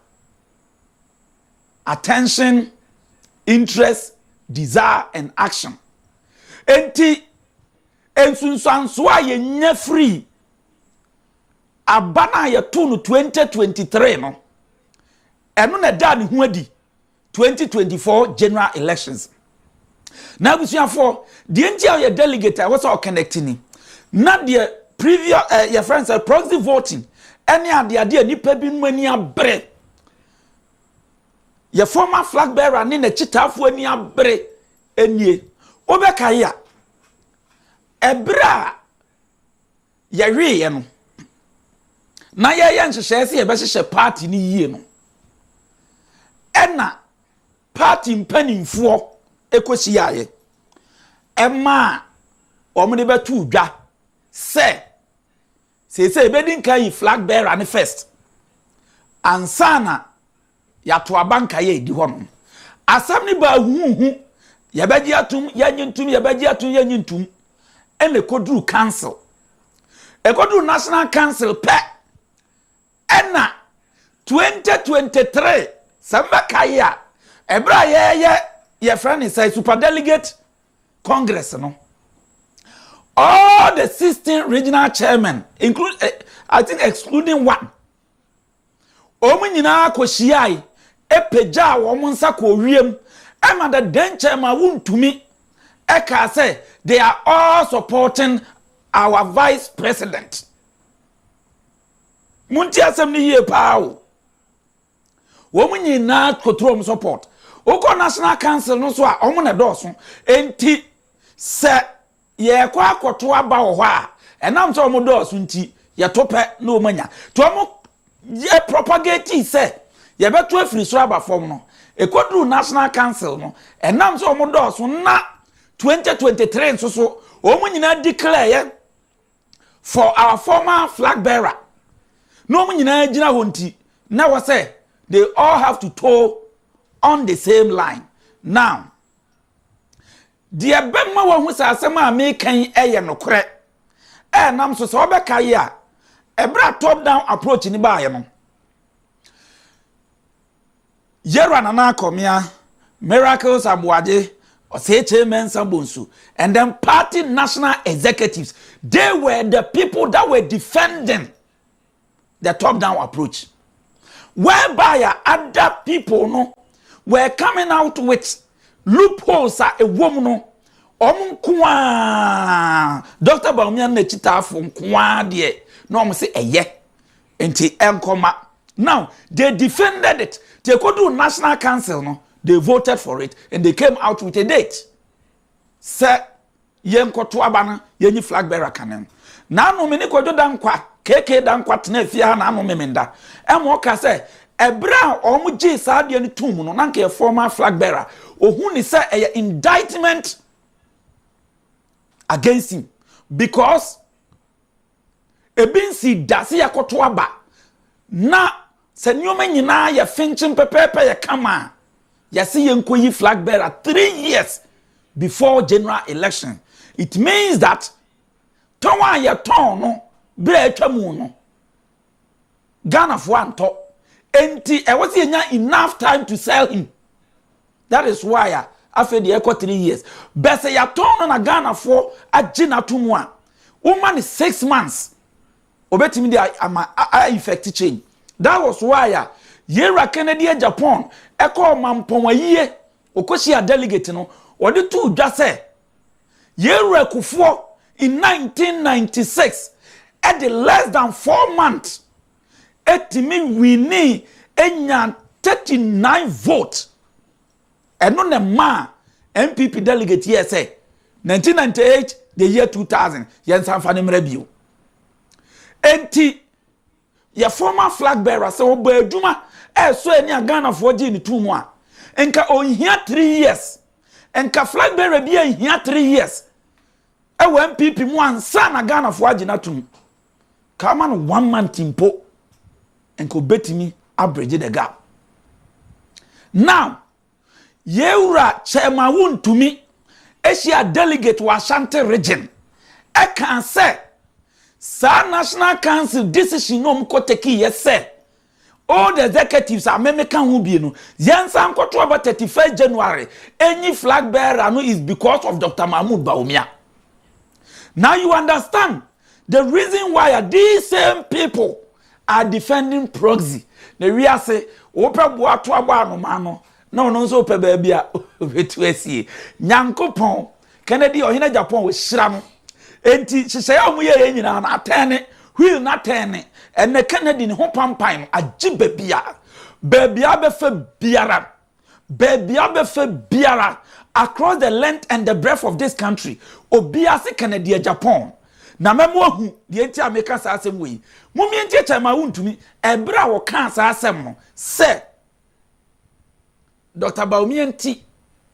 attention, interest, desire and action. Enti nsunsuanso a yɛnya firi aba no a yɛtoo no 2023 no, ɛno na ɛdaa ne ho adi twenty twenty four general elections na abusuafoɔ deɛ nti a ɔyɛ delegate a ɛwɔ sɛ ɔconnect ni na deɛ previous ɛɛ eh, yɛ friend sɛ proxy voting ɛne adeade a nipa bi mu ani abere yɛ former flag bearer ne n'akyitaafoɔ ani abere nie wobɛkae a ɛberɛ a Yɛweeɛ no, na yɛreyɛ nhyehyɛeɛ sɛ yɛbɛhyehyɛ party no yie no, ɛna party mpanimfoɔ kɔhyiaeɛ. Ɛmaa wɔde bɛtoo dwa sɛ seesei yɛbɛdi nkan yi flag bearer no first ansa na Yɛato aba nkaeɛ a ɛdi hɔ no. Asɛm no baa huuhu, yɛbɛgye atom, yɛnnye ntom, yɛbɛgye atom, yɛnnye ntom, ɛna ɛkɔduru council. Ɛkɔduru National Council pɛ, ɛna 2023, sɛ mbɛkae a, ɛberɛ a yɛyɛ yɛfrɛ no sɛ Super Delegate Congress no, all the 16 regional chairmen, include, eh, I think excluding one, Wɔn nyinaa kohyiae, pagyaa wɔn nsa kɔɔ wiem, ɛna the denkyɛ ma wontumi kaa sɛ they are all supporting our vice president. Monti asɛm no yie paa o. Wɔn nyinaa kɔturu wɔn support. Wokɔ National Council no so a, wɔn na ɛdɔɔso. Enti sɛ Yɛkɔ akɔto aba wɔ hɔ a, ɛnam sɛ wɔn dɔɔso nti, yɛto pɛ na wɔn anya. Nti wɔn yɛ propagating sɛ yɛbɛto afiri soro aba fam no, ɛkɔduru National Council no, ɛnam sɛ wɔn dɔɔso na 2023 nso so, wɔn nyinaa declare yɛ for our former flag bearer. Na wɔn nyinaa gyina hɔ nti, na wɔ sɛ they all have to toe on the same line. Now, Deɛ ɛbɛma woahu sɛ asɛm a meka yi yɛ nokorɛ ɛnam so sɛ wobɛkae a ɛberɛ a top down approach no baeɛ no yɛwura nana akɔmea miracles aboagye ɔsɛkyɛ mɛnsa bonsu and then party national executives they were the people that were defending the top down approach whereby a other people no were coming out with loopholes a ɛwɔ mu no wɔn nko ara dr baumia no n'akyitaafo nko ara deɛ na wɔn sɛ ɛyɛ nti ɛnkɔma now they defended it te ekodu national council no they voted for it and they came out with a date sɛ Yɛnkɔto aba na yɛnyi flag bearer ka ne ho. Naano me ne Kwadwo Dankwa, KK Dankwa, tenaa fie ha naano Memenda ma ɔkaa sɛ ɛberɛ a wɔgyee saa adeɛ no toom no na nka yɛ former flag bearer. Ɔhu ne sɛ ɛyɛ indictment against him because Ebi nsii da sɛ yɛakɔto aba, na sɛ nneɛma nyinaa yɛ fenkyem pɛpɛɛpɛ yɛ kama a, yɛse yɛnkɔyi flag bearer three years before general election. It means that tɔn a yɛtɔn no berɛ a atwa mu no, Ghana foɔ antɔ nti ɛwɔ sɛ yɛnya enough time to sell him that is why a afei deɛ ɛkɔ three years bɛ sɛ yɛatɔn no na Ghana foɔ agye no ato mu a woma no six months obɛtumi de ama a effect change that was why a yɛwura Kennedy a Japan ɛkɔ ɔmampɔn ayie ɔkɔhyia delegate no ɔde too dwa sɛ Yɛn werɛkofoɔ in nineteen ninety six de less than four months tumi winii nyaa thirty nine vote. Ɛno na ɛmaa NPP delegate yɛɛ sɛ nineteen ninety eight the year two thousand yɛnsan fa no mmra bio. Enti yɛ former flag bearer sɛ ɔbɔ adwuma ɛsɔ ani a Ghanafoɔ gyee no too mu a nka ɔnhia three years nka flag bearer bi anhia three years ɛwɔ NPP mu ansa na Ghanafoɔ agye no atom ka ama no one month mpo nka ɔbɛtumi abridge the gap now Yɛwura Chairman Wontumi, Asia Delegate wɔ Ashanti Region, ɛkaa sɛ, saa National Council decision no a wɔkɔ takeeɛ sɛ Old Executives a me meka ho bi no, yɛnsan nkɔto aba 31 January ɛnyi Flag Bearer no is because of Doctor Mahmoud Bawumia. Now you understand The reason why a these same people are defending proxy na wiase wopɛ boa to abɔ anoma no na ɔno nso pɛ baabi a obetu asie nyankopɔn kennedy ɔhene japan wɔhyira no enti hyehyɛe a wɔyɛ yɛ nyinaa no atɛn ne wheel no atɛn ne ɛnɛ kennedy ne ho pampan no agye baabi a baabi a bɛfa biara Baabi a wobɛfa biara across the length and the breadth of this country, obiara se Kanadia Japan. Na mɛma woahu deɛ nti a meka saa asɛm wei. Mumia nti akyɛ ma wontumi. Ɛberɛ a wɔkaa saa asɛm no sɛ Dɔkta Bawumia nti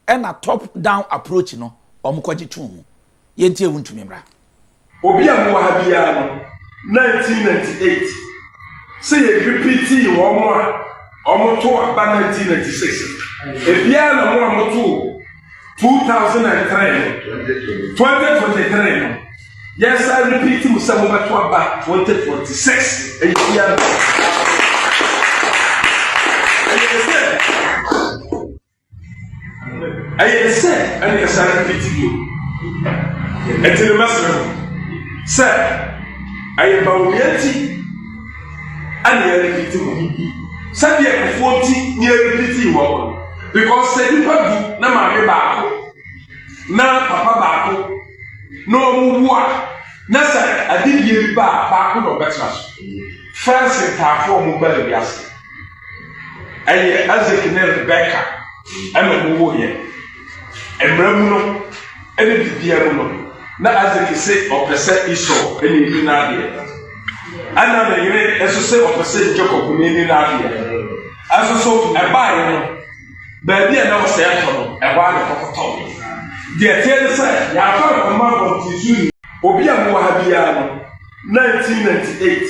ɛna top down approach no wɔkɔgye too mu. yɛ nti a wontumi mmra. Obi a mowɔ ha biara no 1998 sɛ yɛ repeatii wɔn a wɔn to aba 1996 ebiara na mo a mo to 2003 no 2023 no yɛsa repeat mu sɛ mobɛto aba 2026 ɛyɛ biara ɛyɛ sɛ Ɛyɛ te sɛ ɛne ɛsare no fiti bio. Ɛti no mɛsrɛ mo sɛ ɛyɛ bawumia nti ɛne ɛrefiti mo sɛdeɛ kufuo nti ne ɛrefiti wɔ mo because sɛ nipa du na maame baako na papa baako na wɔn wu a na sɛ adedie bi ba a baako na ɔbɛtena so fɛnse ntaafoɔ mo baa bi ase. Ɛyɛ Isaac ne Rebeka na wɔwoeɛ. Mmara mu no, ɛne biribiara mu no, na Isaac se ɔpɛ sɛ Esau na ɛni n'adeɛ. Ɛna ne yere nso se ɔpɛ sɛ Jacob na ɛni n'adeɛ. Ɛso so ɛbaeɛ no, baabi a na ɔsɛ ɛtɔ no, ɛhɔ a na ɛkɔkɔtɔ. Deɛ teɛ ne sɛ, yɛafa no kɔma abɔnten so ni. Obi a mowɔ ha biara no, 1998.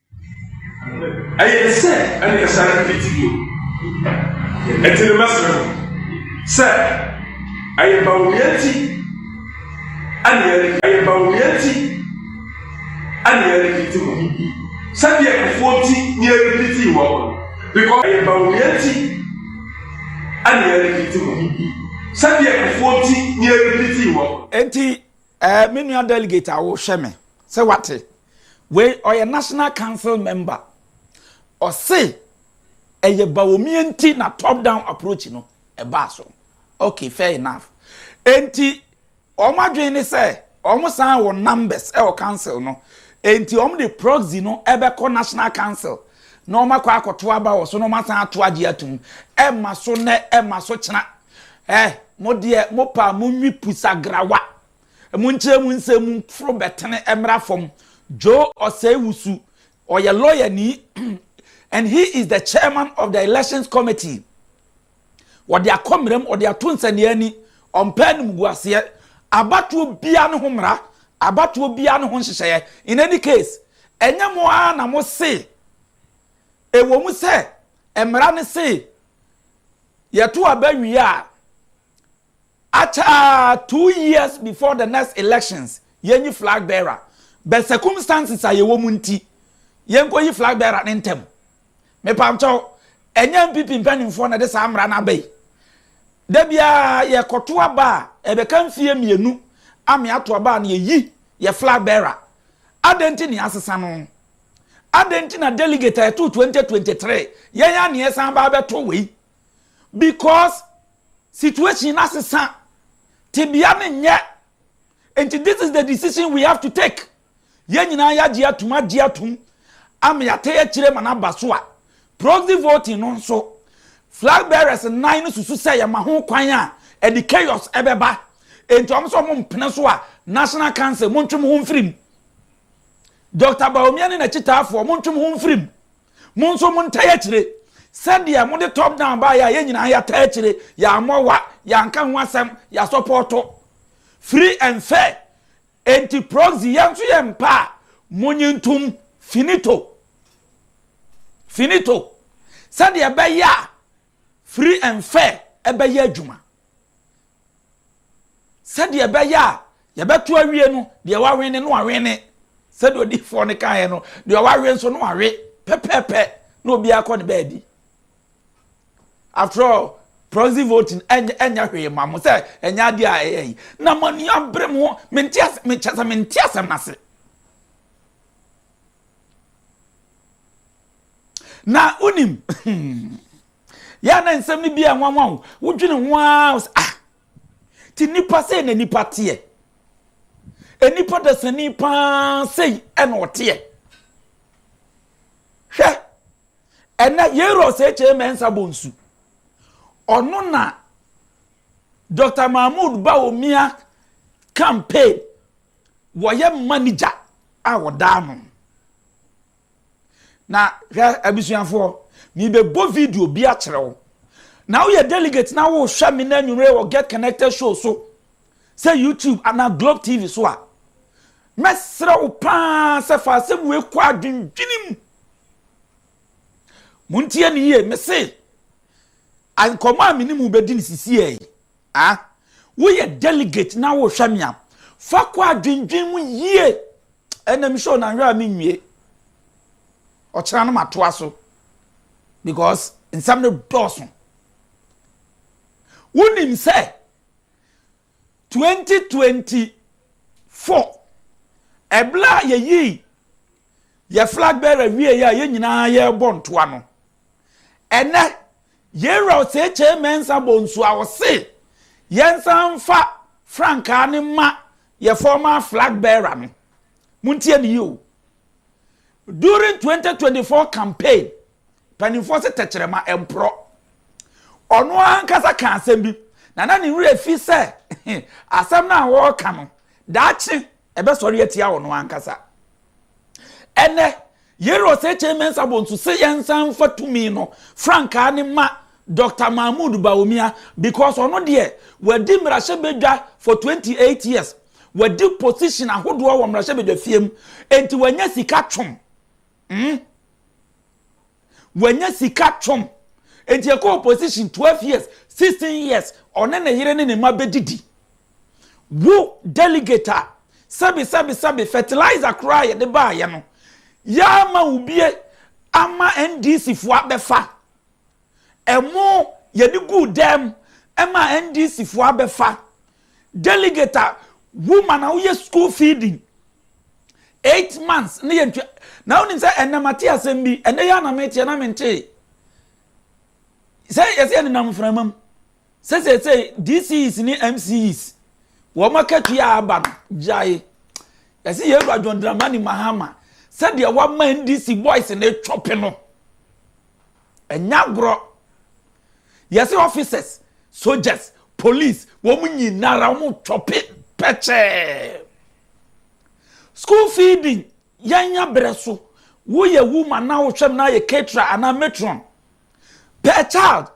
Ɛyɛ te sɛ ɛne yɛsane mfiti bio. Ɛti no mɛsrɛ mo sɛ ɛyɛ bawumia nti ɛne yɛre ɛyɛ bawumia nti ɛne yɛre fiti mo sɛdeɛ kufuo nti ne yɛre fiti wɔ mo because ɛyɛ bawumia nti ɛne yɛre fiti mo sɛdeɛ kufuo nti ne yɛre fiti wɔ mo. Eti ɛɛ eh, me nua delegate a wohwɛ me sɛ wate. Wei ɔyɛ national council member. Ɔse ɛyɛ Bawumia nti na top down approach no ɛbaa so. Ok fair enough. Enti wɔn adwene ne sɛ wɔn san wɔ numbers ɛwɔ council no enti wɔn de proxy no ɛbɛkɔ national council na wɔn akɔ akɔto aba wɔ so na wɔn asan ato agye atum. Ɛma so nɛ ɛma so kyena. Ɛ mo deɛ mo paa mo nwi pusagrawa. Emu nkyerɛmu nsɛm mu foro bɛtene mmra fam. Joe Osei-Wusu, ɔyɛ lɔyani and he is the chairman of the elections committee. Wɔde akɔ mmeram, wɔde ato nsɛnneani, ɔmpɛ animguaseɛ. Abatoɔ biara ne ho mmara, abatoɔ biara ne ho nhyehyɛeɛ. In any case, ɛnyɛ mo ara na mo se, ɛwɔ mu sɛ mmara no se yɛto aba wie a, Akyɛr a, two years before the next elections, yenyi flag bearer. But circumstances a yɛwɔ mu ntsi, yennkoyi flag bearer no ntsɛm. Mepamkyɛw, nnyɛ NPP mpanyimfoɔ na ɛde saa mmara no aba yi. Da biara yɛkɔto aba a, ɛbɛka mfeɛ mmienu a me ato aba a na yɛyi yɛ flag bearer. Adɛn nti na yɛasesa no? Adɛn nti na delegate a yɛtoo 2023, yɛn ara na yɛsan ba abɛto wei? Because. Situation no asesa, tebea no nyɛ. Nti this is the decision we have to take. Yɛn nyinaa yɛagye atum, agye atum ama yɛatɛ akyire ma no aba so a, proxy voting no nso, flag bearers nnan no susu sɛ yɛma ho kwan a, ɛde chaos bɛba. Nti wɔn sɛ wɔmpene so a, National Council, montwe mo ho mfiri mu. Doctor Bawumia ne n'akyitaafoɔ, montwe mo ho mfiri mu. Mo nso montaa akyire. Sɛdeɛ mode top down baeɛ a yɛn nyinaa yɛataa akyire, yɛammɔ wa, yɛanka ho asɛm, yɛasɔpɔɔto. Free and fair. Enti proxy yɛn nso yɛmpa a, monye ntom. Finito. Finito. Sɛdeɛ ɛbɛyɛ a free and fair ɛbɛyɛ adwuma. sɛdeɛ ɛbɛyɛ a yɛbɛto awie no deɛ wawene no awene sɛdeɛ odiifoɔ no kaeɛ no deɛ wawe nso no awe pɛpɛɛpɛ na obiara kɔ ne baabi after all proxy voting ɛnyɛ ɛnyɛ hwee ma mo sɛ ɛnyɛ adeɛ a ɛyɛ yi na mo ani abere mo ho mente asɛ mekyɛ sɛ mente asɛm no ase na wonim yɛa na nsɛm no bi a nwanwa wo wodwene ho ara wo sɛ ah ti nipa sei na nipa teɛ nipa dasani paa sei ɛna ɔteɛ hwɛ ɛnɛ yɛrɔ sɛ kyɛ mɛnsa bɔ nsu ɔno na dr mahmood baomia campaign wɔyɛ manager a wɔdaa no Na hwɛ abusuafoɔ, mebɛbɔ video bi akyerɛ wo. Na woyɛ delegate na wohwɛ me na anwummerɛ wɔ Get Connected show so sɛ YouTube anaa Globe TV so a, mɛsrɛ wo paa sɛ fa asɛm wei kɔ adwendwene mu. Montie ne yie, mese nkɔmmɔ a me ne mu bɛdi no sisiɛ yi, Ah, woyɛ delegate na worehwɛ me a, fa kɔ a dwendwen mu yie. Ɛnna me show nanhwɛ a menwie. Ɔkyena no matoa so because nsɛm no dɔɔso. Wonim sɛ 2024 ɛberɛ a yɛyii yɛ flag bearer wieeɛ a yɛn nyinaa yɛrebɔ ntoa no, ɛnɛ Yɛwura Osekyere Mensah bɔ nsu a ɔse yɛnsan mfa frankaa no mma yɛ former flag bearer no. Montie no yie o. During 2024 campaign, mpanimfoɔ se tɛkyerɛma mporɔ. Ɔno ankasa kaa asɛm bi na na ne werɛ fi sɛ asɛm no a wɔreka no daakye ɛbɛsɔre atia ɔno ankasa. Ɛnɛ Yeri Osekyere Mensah Bonsu se yɛnsan mfa tumi no frankaa no ma Doctor Mahmood Bawumia because ɔno deɛ wadi mmarahyɛbadwa for twenty eight years, wadi position ahodoɔ wɔ mmarahyɛbadwafie mu enti wanya sika twom mm wanya sika twom enti ɛkɔ opposition twelve years, sixteen years ɔne ne yere ne ne mma bɛdidi. Wo delegate a, sɛbe sɛbe sɛbe fertilizer koraa a yɛde baeɛ no, yɛama wo bie ama NDC foɔ abɛfa. Ɛmo yɛde guu dɛm ɛma NDC foɔ abɛfa. Delegate a, wo ma na woyɛ school feeding. Eight months ne yɛn twa. Na wonim sɛ ɛnɛ mate asɛm bi, ɛnɛ yɛ na meteɛ na mentee. Sɛ yɛsɛ yɛnenam mframa mu. Sɛ seesei DCEs ne MCEs wɔn akatua a aba no gyae. Yɛse yɛwura John Dramani Mahama sɛdeɛ wama NDC boys no twɔpe no. Ɛnyɛ agorɔ. Yɛse officers, soldiers, police wɔn nyinara wɔn twɔpe pɛkyɛɛ. School feeding yɛnya berɛ so. Woyɛ woman na wohwɛm na ayɛ caterer anaa matron per child.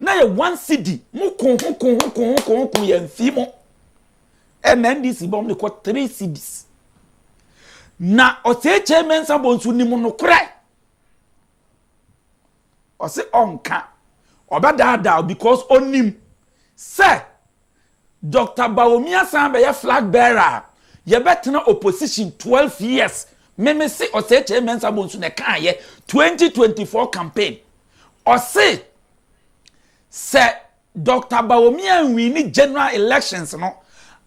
na yɛ one cedi mo ko ho ko ho ko ho ko ho ko yɛ nfi mo ɛna ndc bɔ mo de kɔ three cedis na ɔsɛɛkyɛ mɛnsa bɔ nso nim no korɛ ɔse ɔnka ɔbɛdaadaa because ɔnim sɛ Doctor Bawumia san bɛyɛ flag bearer a, yɛbɛtena opposition twelve years. Me me se Osei Kyei Mensah Bonsu na ɛkaayɛ twenty twenty four campaign. Ɔse sɛ Doctor Bawumia nwini general elections no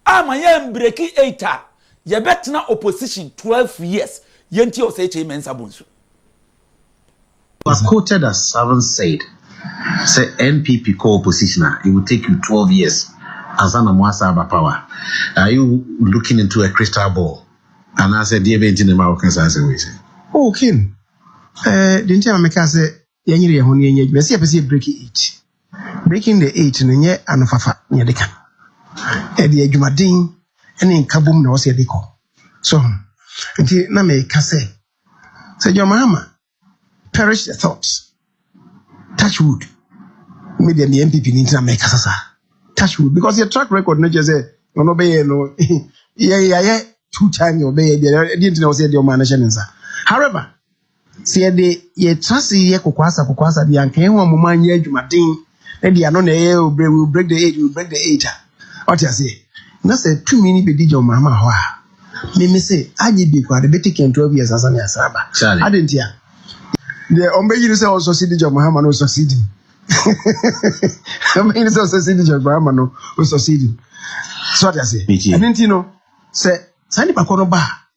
ama yɛanbreki eight a, yɛbɛtena opposition twelve years. Yɛntie Osei Kyei Mensah Bonsu. He was quoted as having said sɛ NPP kɔ opposition a it will take you twelve years ansa na moasan aba power. Are you looking into a crystal ball anaasɛ deɛ bɛn nti na ɛma woka saa asɛm wei sɛ? Oh Ken, eh, deɛ nti a ma meka sɛ yɛnyere yɛn ho na yɛnyɛ adwuma, ɛsɛ sɛ yɛpɛ sɛ yɛ break eight. Breaking the eight no nyɛ anofafa na yɛde ka. Ɛde adwumaden ne nkabom na ɛwɔ sɛ yɛde kɔ. So, nti na meka sɛ Sɛ John Mahama perish the thought touch wood me deɛ meyɛ NPP ni nti na mɛkasa saa touch wood because yɛ track record no kyerɛ sɛ ɔno ɔbɛyɛ no yɛ yɛayɛ two times na ɔbɛyɛ bi ɛdeɛ nti na ɔsɛ yɛde ɔmaa no hyɛ ne nsa however sɛ yɛde yɛtra se yɛ kokoasa kokoasa de anka yɛn ho a moma anyɛ adwumaden na deɛ ano na ɛyɛ o break will break the age will break the age a ɔte aseɛ na sɛ tumi ni bɛdi John Mahama hɔ a meme se agye bi koraa de bɛte kɛn 12 years ansa ne asra ba ade nti a deɛ ɔmbɛyi no sɛ ɔsɔsi di John Mahama no ɔsɔsi di ɔmbɛyi no sɛ ɔsɔsi di John Mahama no ɔsɔsi di so ɔte aseɛ ɛno nti no sɛ saa nipa kɔ no ba a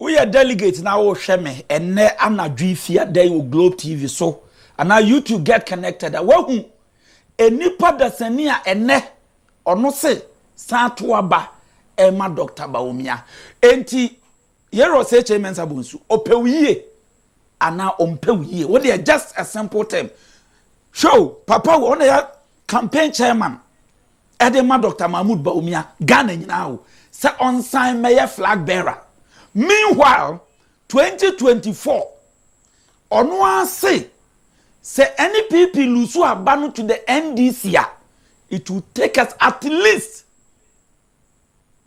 woyɛ delegate na wohwɛ me ɛnɛ anadwo fi adɛn wɔ globe tv so anaa youtube get connected a woahu nnipa dasani a ɛnɛ ɔno se san to aba ɛma dr baomia enti yɛrɛ ɔsɛ kyɛ mɛnsa bɔ nsu ɔpɛ wo yie anaa ɔmpɛ wo yie wo deɛ just a simple term show papa wɔ ɔna yɛ campaign chairman Ɛde ma Doctor Mahmood Bawumia, Ghana nyinaa o, sɛ ɔnsan mmɛyɛ flag bearer. Meanwhile, twenty twenty four, ɔno ara se sɛ NPP lusu aba no to the NDC a, it will take us at least,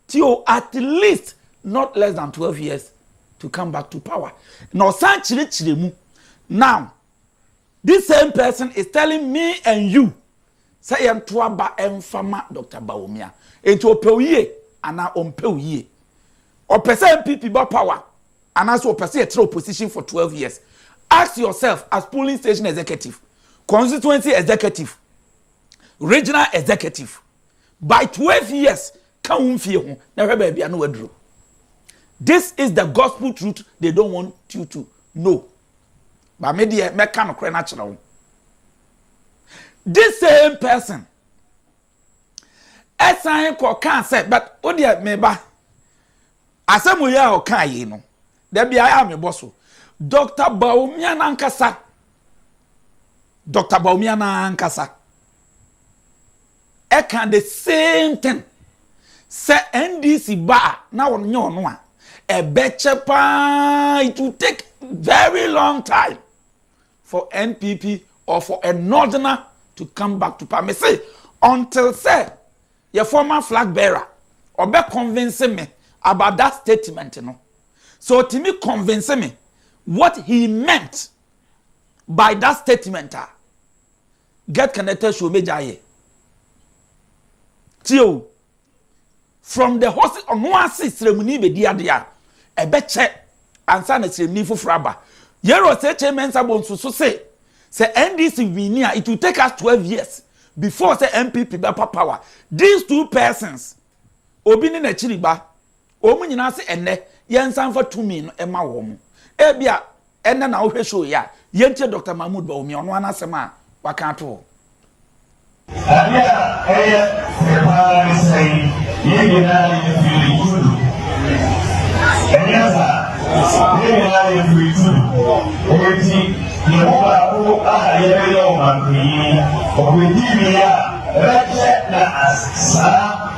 tie o, at least not less than twelve years to come back to power. Na ɔsan kyerɛkyerɛ mu. Now, This same person is telling me and you sɛ yɛnto aba mfa ma Doctor Bawumia. Enti ɔpɛ wo yie anaa ɔmpɛ wo yie? Ɔpɛ sɛ NPP ba power anaasɛ ɔpɛ sɛ yɛtra opposition for 12 years? Ask yourself as polling station executive, constituency executive, regional executive. By 12 years, ka wo mfie ho na hwɛ baabi a na waduru. This is the gospel truth they don't want you to know. But me deɛ mɛka nokorɛ no akyerɛ wo. This same person ɛsan kɔ kaa sɛ but wo deɛ me ba asɛm yi a ɔkaa yi no da bi ayɛ a mebɔ so Dr. Bawumia nankasa Dr. Bawumia nankasa ɛka the same thing sɛ NDC ba a na wɔn nyɛ wɔn a ɛbɛkyɛ paa it will take very long time for NPP or for a northerner to come back to power me say until sɛ yɛ former flag bearer ɔbɛ convince me about that statement no so otimi convince me what he meant by that statement a Get connected show me gya yɛ. Tie o. From the host ɔno ase sremuni bedi ade a ɛbɛkyɛ ansa na sremuni foforɔ aba. Yɛrɛ ɔsɛkyɛ mɛnsa bɔ nsusu se sɛ NDC wini a it will take us twelve years before sɛ NPP bɛpa power. These two persons obi ne n'akyiri ba Wɔn nyinaa se ɛnnɛ yɛnsan mfa tumi no mma wɔn. Ebia ɛnnɛ na wohwɛ show yi a, yɛntie Dɔkta Mahmood Bawumia, ɔno ara n'asɛm a waka ato hɔ. Ade a ɛyɛ fɛ paa ne sɛ yɛn nyinaa yɛfiri Tudu. Ɛnyɛ saa? Yɛn nyinaa yɛfiri Tudu. Enti yɛn mu baako a yɛbɛyɛ ɔmanpanyin, ɔbɛdi wie a, ɛbɛkyɛ na asaa.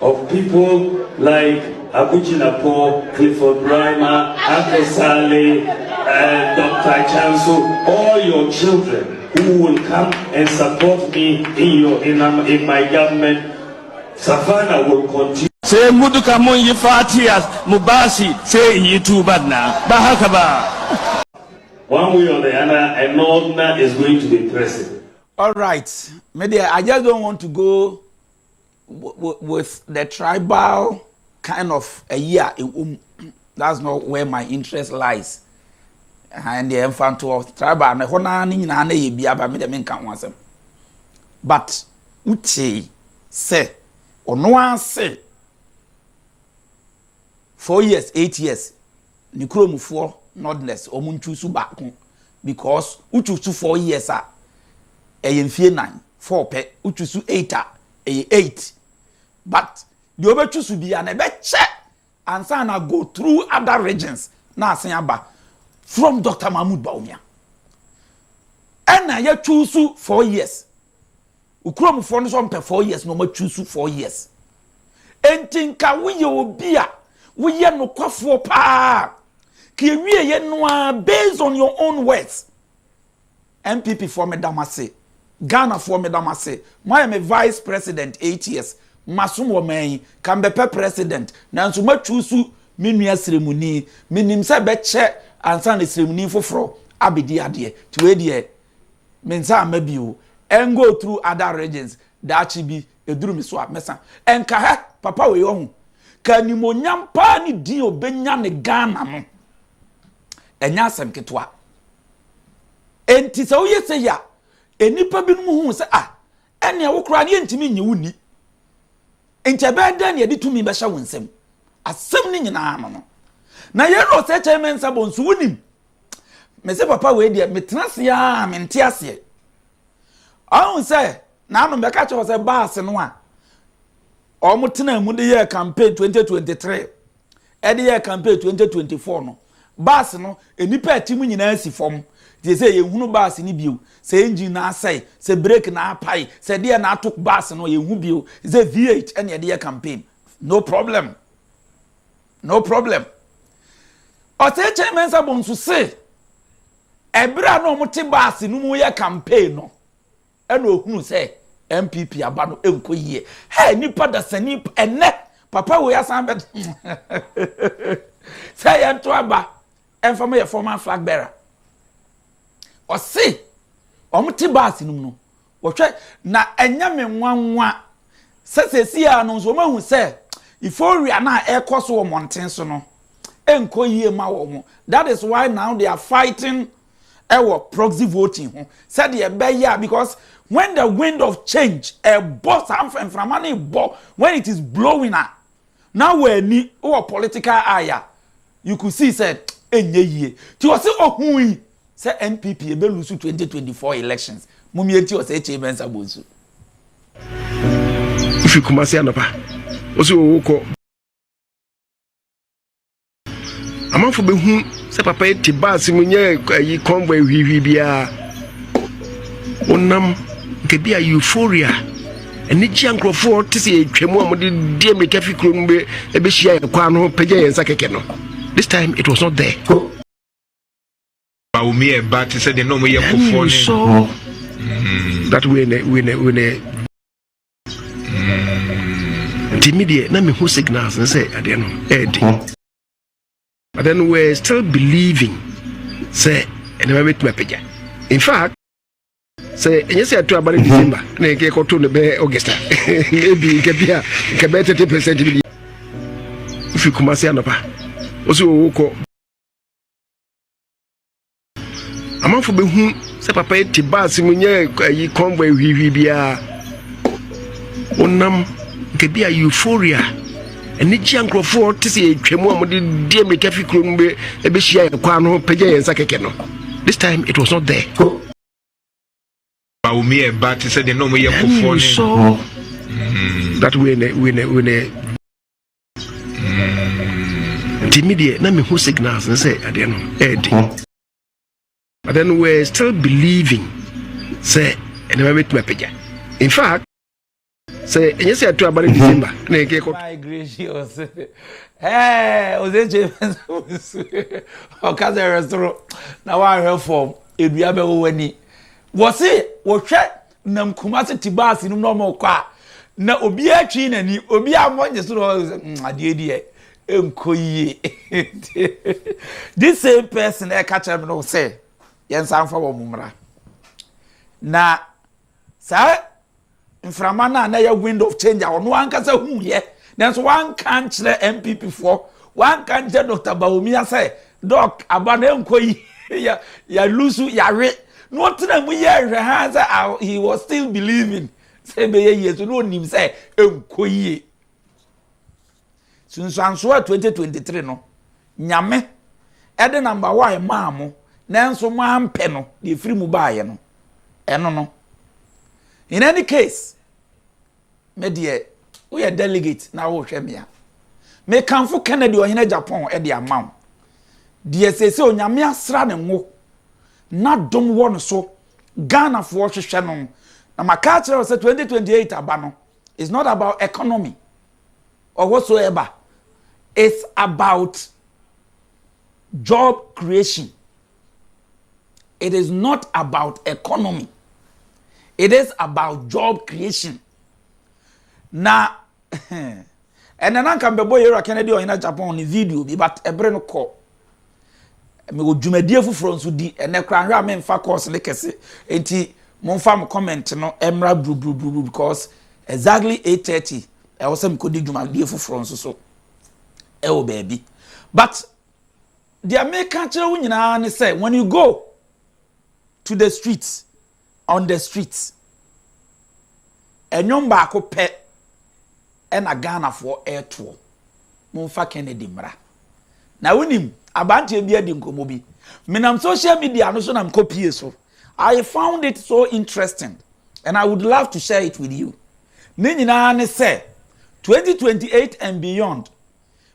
of people like Abu Jinapor, Clifford Rhymer, Ato Saleh, uh, Dr. Chanso, all your children who will come and support me in your in, um, in my government. Savannah will continue. sai muduka mun yi fatiya mu basi sai in yi tuban na ba haka ba one way or the other an ordinary is going to be present all right me there i just don't want to go with the tribal kind of ayi a ɛwɔ mu that's not where my interest lies ɛhan deɛ ɛnfa ntoɔ tribal na ɛhɔ naa ne nyinaa na ɛyɛ bi aba mi deɛ mi nka ho asɛm but wotee sɛ ɔno ase four years eight years ne kurom foɔ nordness wɔn nchusu baako because wochusu four years a ɛyɛ mfie nan four pɛ wochusu eight a ɛyɛ eight but deɛ wɔbɛchusu bia na ɛbɛkyɛ ansa na go through other regions na asen aba from Dr. Mahmoud Bawumia ɛna yɛchusu four years okurom foɔ no sɛ ɔmpɛ four years na ɔma choose four years enti nka woyɛ obi a woyɛ nokwafoɔ paa ka ewie yɛ no a based on your own words npp foɔ meda mo ase ghana foɔ meda mo ase moayɛ me vice president eight years masom wɔ man yi ka mbɛpɛ president nanso ma choose me nua sremuni menim sɛ bɛkyɛ ansa na sremuni foforɔ abɛdi adeɛ tiwei deɛ Me nsa amma bi o. Ɛn go through other regions Daakye bi ɛduru me so a mɛsa Ɛnka hɛ papa wei ɔhu Ka animuonyam paa ne din ɔbɛnya ne Ghana no Ɛnyɛ asɛm ketewa Ɛnti sɛ woyɛ sei a Nnipa binom hu sɛ ah Ɛnneɛ wo koraa no yɛntumi nnye wo nni Nti ɛbɛyɛ dɛn na yɛde tumi bɛhyɛ wo nsam Asɛm no nyinaa no no Na yɛn Rose HMN Sabon nso wonim mese papa wei deɛ metena ase a mente aseɛ ɔhu sɛ n'ano bɛka kyerɛ sɛ baase no a wɔn tena mu de yɛ campaign 2023 ɛde yɛ campaign 2024 no baase no nnipa ɛte mu nyinaa si fam deɛ sɛ yɛhunu baase no bio sɛ engine na asɛe sɛ brake na apae sɛ deɛ na ato baase no yɛhu bio sɛ v8 ɛne ɛde yɛ campaign no problem No problem. Ɔsekyerɛ Mensah Bone nso se, ɛberɛ a na wɔte baase no mu yɛ campaign no, ɛna ɔhunu sɛ NPP aba no ɛnkɔ yie. Hey, nipa dasani ɛnɛ papa wei asan bɛ sɛ yɛnto aba ɛmfa ma yɛ former flag bearer. Ɔse wɔte baase no mu no, Wɔhwɛ, na ɛnyɛ me nwanwa sɛ seesei ara no nso wɔahu sɛ euphoria no a ɛrekɔ so wɔ mmɔnten so no nkɔ yie mma wɔn. That is why now they are fighting ɛwɔ proxy voting ho sɛdeɛ ɛbɛyɛ a because when the wind of change ɛbɔ saa mfɛmframa no rebɔ when it is blowing a Na w'ani wɔ political eye a, you could see sɛ ɛnyɛ yie. Nti ɔse ɔhui sɛ NPP bɛ lose 2024 elections. Mom yɛnti ɔsɛ HA Mensah bɔ nsu. Wofi Kumasi anɔpa, wose wowokɔ. amanfo behu sɛ papa yi te baase mu nyɛ ayi convoy hwihwi biara wonam nka bi a euphoria anigye a nkurɔfoɔ te sɛ yɛtwa mu a wɔde deɛ mmirika fi kuro no bɛhyia yɛn kwan no pɛgya yɛn nsa kɛkɛ no this time it was not there Baomi ɛba te sɛ deɛ na wɔyɛ kɔfoɔ ne that way ne way ne way ne nti mi deɛ na mi hu signals ne sɛ adeɛ no ɛɛdi but then we are still believing sɛ ɛnɛma bɛ tuma pagya in fact sɛ ɛnyɛ sɛ ɛto aba ne mhm. december na yɛn kɛkɔ to ne bɛ augusta ebi nka bi a nka bɛ thirty percent bi fi kumasi anɔpa o si owo kɔ. amanfo behu sɛ papa yi te baase mu nyɛ ayi convoy hwihwi biara wonam nka bi a euphoria anigye a nkurɔfoɔ te sɛ yɛtwa mu a wɔde deɛ mmirika fi kuro no bɛhyia yɛn kwan no pɛgya yɛn nsa kɛkɛ no this time it was not there Baomi ɛba te sɛ deɛ na wɔyɛ kɔfoɔ ne that way ne way ne way ne nti mi deɛ na mi hu signals ne sɛ adeɛ no ɛɛdi but then we are still believing sɛ ɛnɛma bɛ tuma pagya in fact sɛ ɛnyɛ sɛ ɛto aba ne mhm. december na ɛkɛ kɔ. my gracious ɛɛ ɔsɛnkyɛ ɔka sɛ ɛrɛ soro na wahwɛ fam edua bɛ wɔ w'ani wɔsi wɔhwɛ nam Kumasi te baase no mu na wɔn rekɔ a na obiara atwi n'ani obi a wɔn nye so na wɔn hmm, adeɛ deɛ nkɔ yie this same person ɛka kyerɛ mi no sɛ yɛn nsa nfa wɔn mmra na saa mframa no a na yɛ wind of change a ɔno ankasa hu yɛ nanso wanka nkyerɛ npp foɔ wanka nkyerɛ dr bawumia sɛ Doc aba na ɛnkɔ yi yɛ yɛ lusu yawe na ɔtena mu yɛ nhwɛ ha sɛ ah, he was still believing sɛ ɛbɛyɛ yie so na ɔnim sɛ ɛnkɔ yie sunsuansoɔ a 2023 no nyame ɛde namba wa ɛmaa mo nanso mo ampɛ no deɛ ɛfiri mu baayɛ no ɛno no in any case Me deɛ woyɛ delegate na worehwɛ me a, mekamfo Kennedy Ɔhene Japan de ama wo, deɛ seesei Onyame asra ne ngo na dom wɔ no so, Ghanafoɔ hwehwɛ no, na maka akyerɛ wo sɛ 2028 aba no is not about economy or whatsoever, it's about job creation. it is not about economy it is about job creation na ɛnna na nka mbɛbɔ yɛwura kennedy ɔyina japan ne video bi but ɛbere no kɔ mewɔ dwumadie foforɔ nso di ɛnɛ koraa nhwɛ a memfa course ne kɛse nti momfa mo comment no mmra buruburuburuburu because exactly 8:30 ɛwɔ sɛ mekɔdi dwumadie foforɔ nso so ɛwɔ baabi but Deɛ meka kyerɛ wo nyinaa ne sɛ when you go to the street on the street ɛnwom baako pɛ ɛna ghanafoɔ ɛretoɔ momfa kennedy mmra na wonim abanteɛ bi adi nkɔmmɔ bi menam social media no so na mekɔ pie so i found it so interesting and i would love to share it with you ne nyinaa ne sɛ 2028 and beyond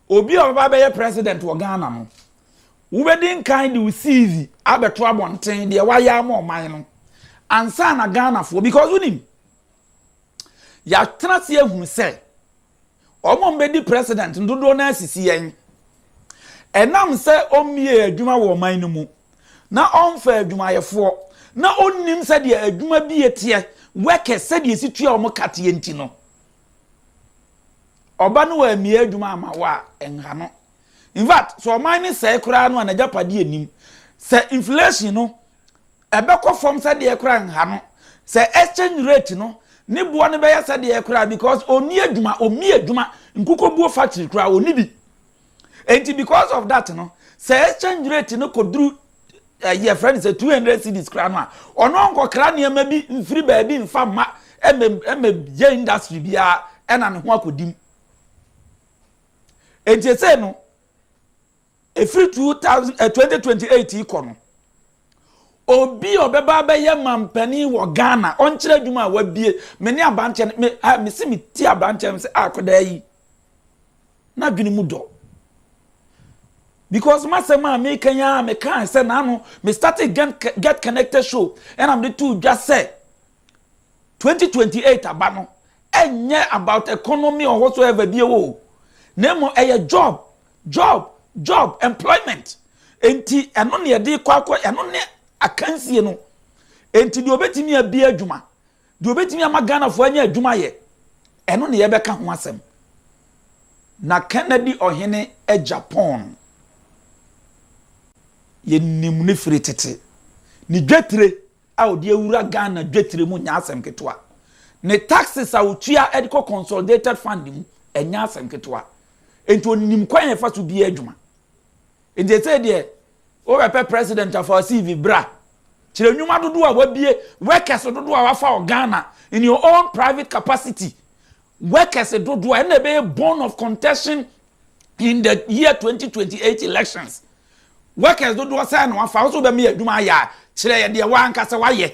Obi a ɔbɛba abɛyɛ president wɔ Ghana no, wobɛdi nkan de wo CV abɛto abɔnten, deɛ woayɛ ama ɔman no, ansa na Ghanafoɔ, because wonim, yɛatena ase ahunu sɛ, wɔn a wɔbɛdi president no dodoɔ no ara sisi yɛn. Ɛnam sɛ ɔmmie adwuma wɔ ɔman no mu, na ɔmfa adwumayɛfoɔ, na ɔnnim sɛdeɛ adwuma bie teɛ, workers, sɛdeɛ ɛsi tua wɔn ka teɛ nti no, Ɔba no ammie adwuma amma wo a, nha no. In fact, sɛ ɔman no sɛe koraa no a, n'agyapadeɛ nnim. Sɛ inflation no, ɛbɛkɔ fam sɛdeɛ koraa nha no. Sɛ exchange rate no, ne boɔ no bɛyɛ sɛdeɛ koraa because ɔnni adwuma, ɔmmie adwuma, nkukuobuo factory koraa, ɔnni bi. Enti because of that no, sɛ exchange rate no kɔduru ɛyi eh, ɛfrɛ no sɛ two hundred cedis kora no a ɔno ɔnkɔkra nneɛma bi mfiri baabi mfa mma ɛmɛ ɛmɛ yɛ industry biara ɛna ne ho akɔdim. Enti ɛsɛ no ɛfiri two thousand eh, twenty twenty eight yi kɔ no obi a ɔbɛba abɛyɛ mampanin wɔ ghana ɔnkyerɛ adwuma a wabie me ne abankyɛ me a me si me ti abankyɛ me sɛ akɔdaa yi N'adwene mu dɔ. Because m'asɛm a meka yi ara mekae sɛ n'ano me started get, get connected show ɛna mede too dwa sɛ 2028 aba no ɛnyɛ about economy or whatsoever bi o na mmom ɛyɛ job job job employment enti ɛno ne yɛde kɔ akɔ ɛno ne akansie no enti deɛ obetumi abie adwuma Deɛ ɔbɛtumi ama Ghanafoɔ anya adwuma ayɛ, ɛno na yɛbɛka ho asɛm. Na Kennedy Ɔhene agya Pɔn, yɛnim no firi tete. Ne dwetire a ɔde awura Ghana dwetire mu nyɛ asɛm ketewa. Ne taxes a ɔtua de kɔ Consolidated Fund mu, ɛnyɛ asɛm ketewa. Enti ɔnim kwan a yɛfa so di yɛn adwuma. Enti seesei deɛ Worepɛ president afa wo CV bra. Kyerɛ nnwuma dodoɔ a wabue, workers dodoɔ a wafa wɔ Ghana in your own private capacity, workers dodoɔ a ɛna ɛbɛyɛ bone of contention in the year 2028 elections. Workers dodoɔ sɛn na wafa, wo so wobɛma yɛ adwuma ayɛ a, kyerɛ yɛ deɛ wo ankasa wayɛ.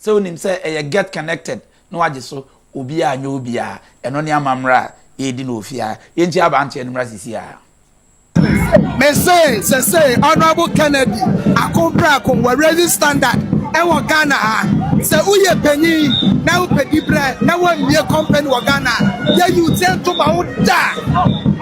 Sɛ wonim sɛ ɛyɛ get connected na wagye so, obiara nyɛ obiara, ɛno ne amammerɛ a yɛredi no wɔ fie ha, yɛnkyia abanteɛ no mmra sisiaa. Mesee sesei Honourable Kennedy Akon Prako wɔ Raising Standard wɔ Ghana ha. Sɛ woyɛ panyin na wopɛ dibrɛ na woammie company wɔ Ghana a, yɛ Yute nto ma wo da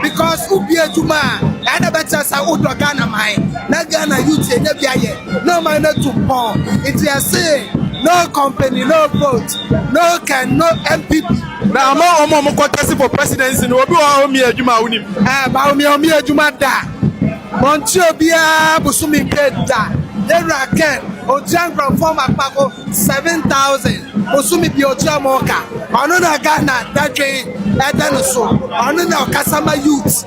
because wobue adwuma a, ɛɛ na ɛbɛkyerɛ sɛ wodɔ Ghana man na Ghana Yute nya bi ayɛ. na ɔman no atu mpɔn nti yɛsee no company no vote no can no mpp. Na ama wɔn a wɔn kɔ tɛsi for presidency no obi wɔ hɔ a ɔmia adwuma a wonim. Ɛɛ ba ɔmia ɔmia adwuma da wɔntua obiara bosome pɛ da yɛwura ken ɔtua nkorɔfoɔ ma kpako seven thousand bosome bia ɔtua wɔn ka ɔno na Ghana dadwen ɛda no so ɔno na ɔkasa ma youth.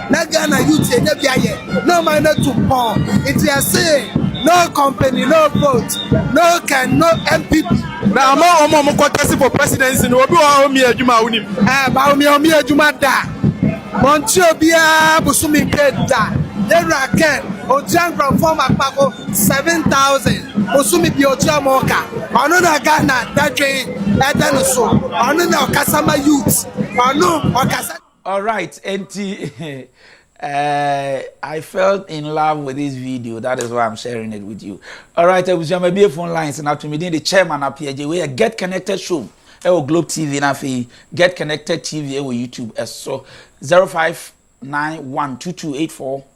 Na Ghana youth yɛnya bi ayɛ na ɔman no atu mpɔn nti yɛse no company no vote no can no MPP. Na ama wɔn a wɔkɔ tɛse for presidency no obi wɔ hɔ a ɔmmie adwuma a wonim? Ɛɛ Bawumia ɔmmie adwuma da ɔntua obiara bosome pay da yɛwura Ken ɔntua nkurɔfoɔ makpako seven thousand bosome bia ɔtua wɔn ka ɔno na Ghana dadwen ɛda no so ɔno na ɔkasa ma youth ɔno ɔkasa Alright enti eh, I felt in love with this video that is why I'm sharing it with you. Alright abusua ma bie phone lines na to me din de chairman apiagye wei yɛ get connected show ɛwɔ Globe TV na afei get connected TV ɛwɔ YouTube ɛso 05912284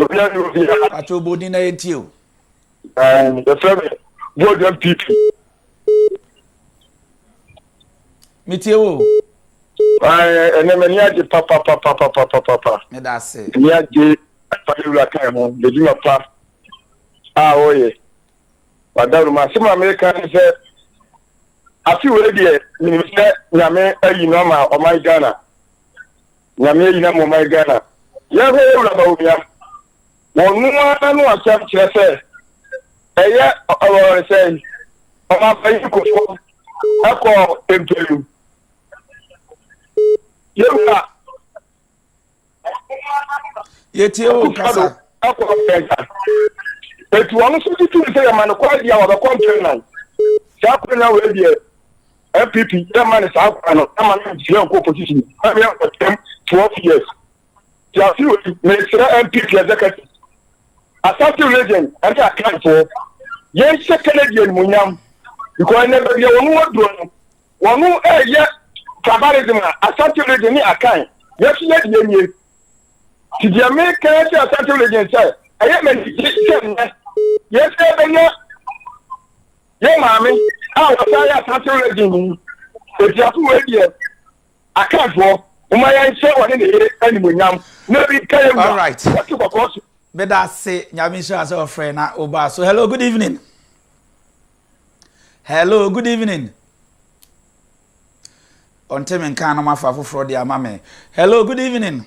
Obia ni obia. Pato obo din na yɛ ntie o. Ɛɛ yɛ fɛ mi George MPP. Mi tie wo. Ɛɛ ɛnɛ mɛ ni agye papapapapapapa. Ne da ase. Ni agye apade wura kan ho yɛ dwuma pa a ɔyɛ. Wadawuro ma asem a mi kan ne sɛ afi wei deɛ mi ni sɛ nyame ayi no ama ɔman Ghana. Nyame ahyira mo ɔman Ghana. Yɛn hɔ yɛ wura Bawumia. Wɔno ara n'ano asɛm kyerɛ sɛ ɛyɛ ɔɔɔɔ sɛn ɔmanpanyin kofo ɛkɔ mpɛlu. Yɛ wura. Yɛtie wo kasa. Ɛkɔ mpɛnsa. Etu ɔno so tutu sɛ yɛ ma no kwan bia wɔbɛkɔ mpɛnnan. Saa kwan na wɔadiɛ. npp yɛ ma ne saa kwan no ama no ntua nkɔ opposition na yɛ nkɔtɛm twelve years tiase wɔ ti mesrɛ npp executive asase legend ɛne akanfoɔ yɛnhyɛ kennedy animonyam because ɛnɛ baabi a wɔn wɔ duro no wɔn ɛyɛ tribalism a asase legend ne akan yɛso yɛ deɛ nie ti deɛ meka sɛ asase legend sɛ ɛyɛ mɛ ne gye sɛ nnɛ yɛsɛ bɛnya Yɛ maame a wɔsan yɛ asase redi ni. Otiafo wei deɛ, Akanfoɔ, momma yɛnhyɛ ɔne ne yere animuonyam na bi nka yɛn wura wɔte kɔkɔɔ so. Meda ase nyame nhyira sɛ ɔfrɛ na ɔbaa so. Hello, good evening. Hello, good evening. Ɔnte me nka no mafa foforɔ de ama me. Hello, good evening.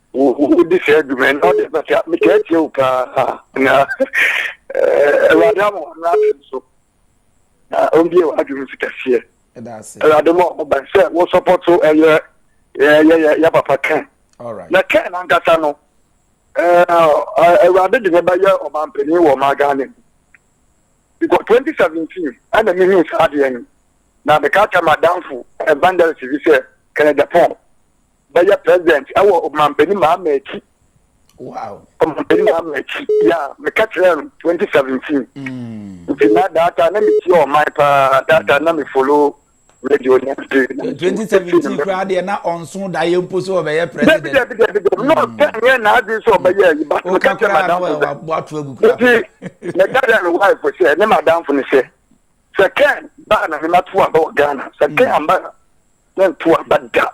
Wodi saa dwuma yi na ɔde bɛka metaa tie wo paa na awurade ama ɔno ase nso na ɔmbie w'adwene nso kɛseɛ awurade ma ɔmo bɛn sɛ wo sɔpɔto ɛyɛ yɛyɛ yɛ papa kɛn na kɛn nankasa no awurade de ne bɛyɛ ɔmampanin wɔ ɔma ghana mu because twenty seventeen ɛna mehu saa adeɛ no na meka kyɛ madamfo evangelist bi sɛ kɛnɛ japan bɛyɛ president ɛwɔ ɔmanpanin mahama akyi wow ɔmanpanin mahama akyi ya meka kyerɛ no 2017 mm. nti na data na metie ɔman paa data na me follow radio ne ade 2017 koraa deɛ na ɔnso da yɛ mpo so ɔbɛyɛ president dabi dabi dabi na ɔpɛ nyɛ na ade so ɔbɛyɛ yi ba meka kyerɛ madamfo sɛ nti meka kyerɛ no wife sɛ ne madamfo no sɛ sɛ kɛn baa na mema to aba wɔ ghana sɛ mm. kɛn amba na mentu aba da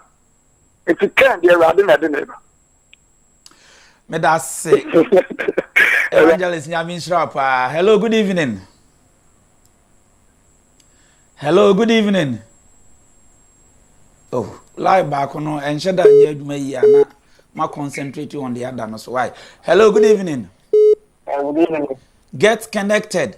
nti kɛn deɛ awurade na ɛde ne ba meda ase evangelist nyame nhyira paa hello good evening hello good evening oh live baako no ɛnhyɛ da nyɛ adwuma yi ana ma concentrate on the other no so why hello good evening oh, good evening get connected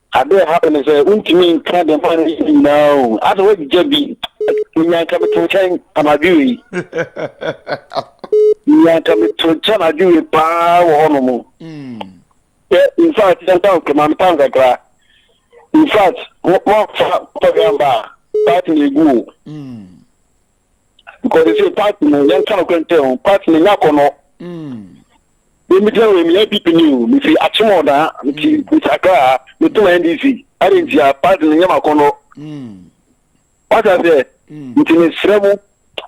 Ade a ɛhaw ne sɛ wontumi nka deɛ maa no yɛ ne nyinaa o. Asɛ woagyigya bi. Menya nka meto nkyɛn anadwo wei. Menya nka meto nkyɛn anadwo wei paa wɔ hɔnom. Hmm. Sɛ in fact yɛn town kama me town kakra. In fact wɔfa pɔgamba a party na egu o. Hmm. because they say party no yɛn kan kura ntɛ o party no nya kɔnɔ yɛn mi gyina wɔ mi yɛ pp ni o mi fi akyem ɔdan mi ti mi ti akra mi to ma ndc ɛdi nti a party no nya ma kɔnɔ wata sɛ nti mi srɛ mu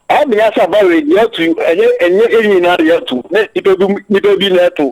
ɛmi yasa bawe yɛ tu ɛnyɛ ɛnyɛ ɛnyɛ nyinaa yɛ tu ne nipa bi nipa bi na ɛto.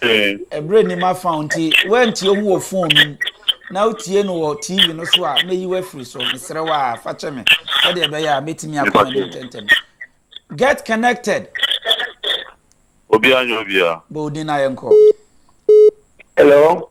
ɛberɛ nnim afa wo nti woantie ho wɔ fon no mu na wotie no wɔ tv no so a mɛyi wafiri so mesrɛ wo a fa kyɛ me sɛdeɛ ɛbɛyɛ a mɛtumi akɔ ani ntɛntɛm get connected obiara nyɛ obiara bɔ odin na yɛnkɔ hello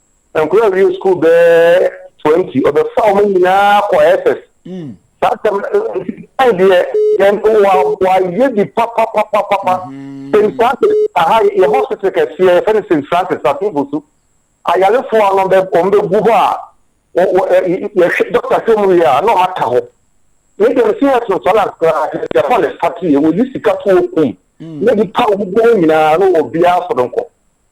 nkwadaa a wɔwie sukuu bɛyɛ twenty ɔbɛfa wɔn nyinaa kɔ ss mm. saa sɛm ɛn deɛ yɛn wa wayɛ bi papapapapa mm-hmm. st francis aha yɛ hospital kɛseɛ yɛfɛ no st francis atumfo so ayarefoɔ ano bɛ wɔn bɛ gu hɔ a wɔ wɔ yɛhwɛ dɔkta hwɛ mu yɛ a na wɔn ata hɔ ne deɛ no si yɛ sɔn sɔn na koraa yɛ hɔ ne sati yɛ wɔyi sika to okum ne bi pa wɔn nyinaa na obiara sɔrɔ nkɔ.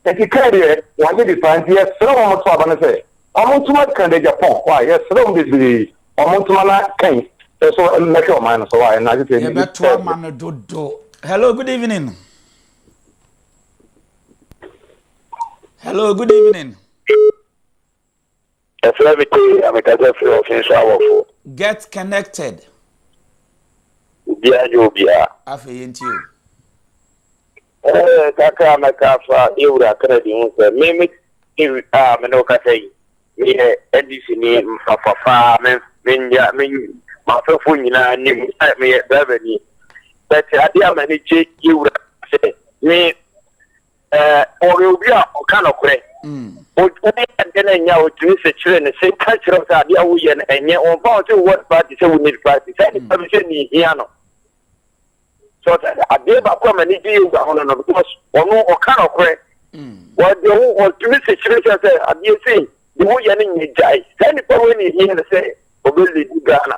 Enti kan deɛ wɔnye de paa nti yɛsrɛ wɔn to aba no sɛ wɔn ntoma kan de Japan wae yɛsrɛ wɔn bebree wɔn ntoma na kan so mmɛhwɛ ɔman no so wae na agye sɛ ɛni yɛbɛto ama no dodo hello good evening hello good evening Ɛfrɛ me tee na me kasa firi ɔfee so awɔfo. Get connected. Obiara nyɛ obiara. Afei yɛn ti o. Ɛɛ kakra mɛka afa yɛwura Kennedy ho sɛ me me ti a me ne ɔkasa yi meyɛ NDC ni mfafafa me me nya me mafɛfo nyinaa nim sɛ meyɛ driver ni. Bɛte adeɛ a m'ani gye yɛwura sɛ me ɔyɛ obi a ɔka nokorɛ woyɛ adeɛ no ɛnyɛ a ɔtumi sɛ kyerɛ no sɛ ka kyerɛ wo sɛ adeɛ a woyɛ no ɛnyɛ ɔmfa wo sɛ wowɔ party sɛ wo need party sɛ nipa bi sɛ mehia no so sɛ adeɛ baako a m'ani gye yoga ho no no because ɔno ɔka nokorɛ wɔde wo ɔtumi sɛ kyerɛ sɛ sɛ adeɛ sei de woyɛ no nyɛ gyae sɛ nipa wei ne hia no sɛ ɔbɛlidi ghana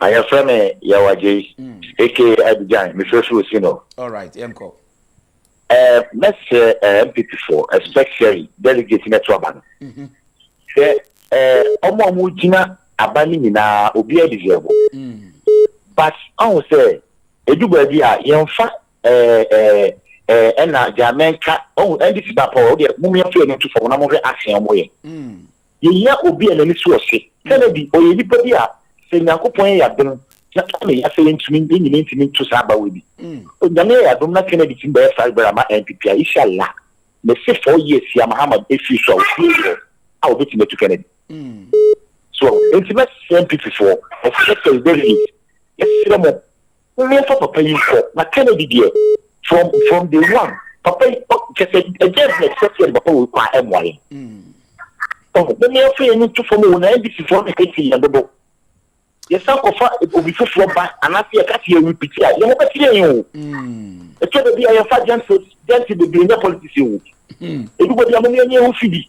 a yɛfrɛ me Yawagye aka mm. Abidjan mefrɛ firi Osino mɛsrɛ MPP foɔ especially delegate no ɛto aba no sɛ ɔmo a ɔmo gyina aba no nyinaa obiara deserve mm. but ɔho sɛ ɛdu baabi a yɛmfa ɛna deɛ amɛnka ɔho ndc ba pɔ ɔdeɛ momyɛmfa yɛn no to fam na mohwɛ asea ɔmo yɛ Yehia obi a n'ani so ɔhye. Kennedy, ɔyɛ nipa bi a sɛ Nyankopɔn yɛ y'adom na ɔne yɛ asɛ yɛntumi, yɛn nyinaa ntumi nto saa abawoɛ bi. Onyame yɛ y'adom na Kennedy tumi bɛyɛ saa rebɛrɛ ama NPP a, isha Allah, mese four years yi a Mahama efiri so a ofie yi hɔ a obetumi atu Kennedy. So, enti mɛsrɛ NPP foɔ, mɛsrɛ President Reid, mɛsrɛ mo, Womia fa papa yi nkɔ na Kennedy deɛ from from day one papa yi ɔ kyɛ sɛ ɛdeɛ bi na ɛsɛ sɛ papa wɔ kɔ a ɛmoa yɛn. Ɔho mo mmea firi ɛni to fam o na NDC foɔ na ɛkɛ ti yɛn dodo. Yɛsan kɔfa obi foforɔ ba anaasɛ yɛka sɛ yɛrepiti a yɛn ho bɛte yɛn o. Ɛtɔ da bi a yɛmfa gentles gentles bebree nyɛ politics o. Ebi bɔ bi a mo mmea nyɛ ho fidi.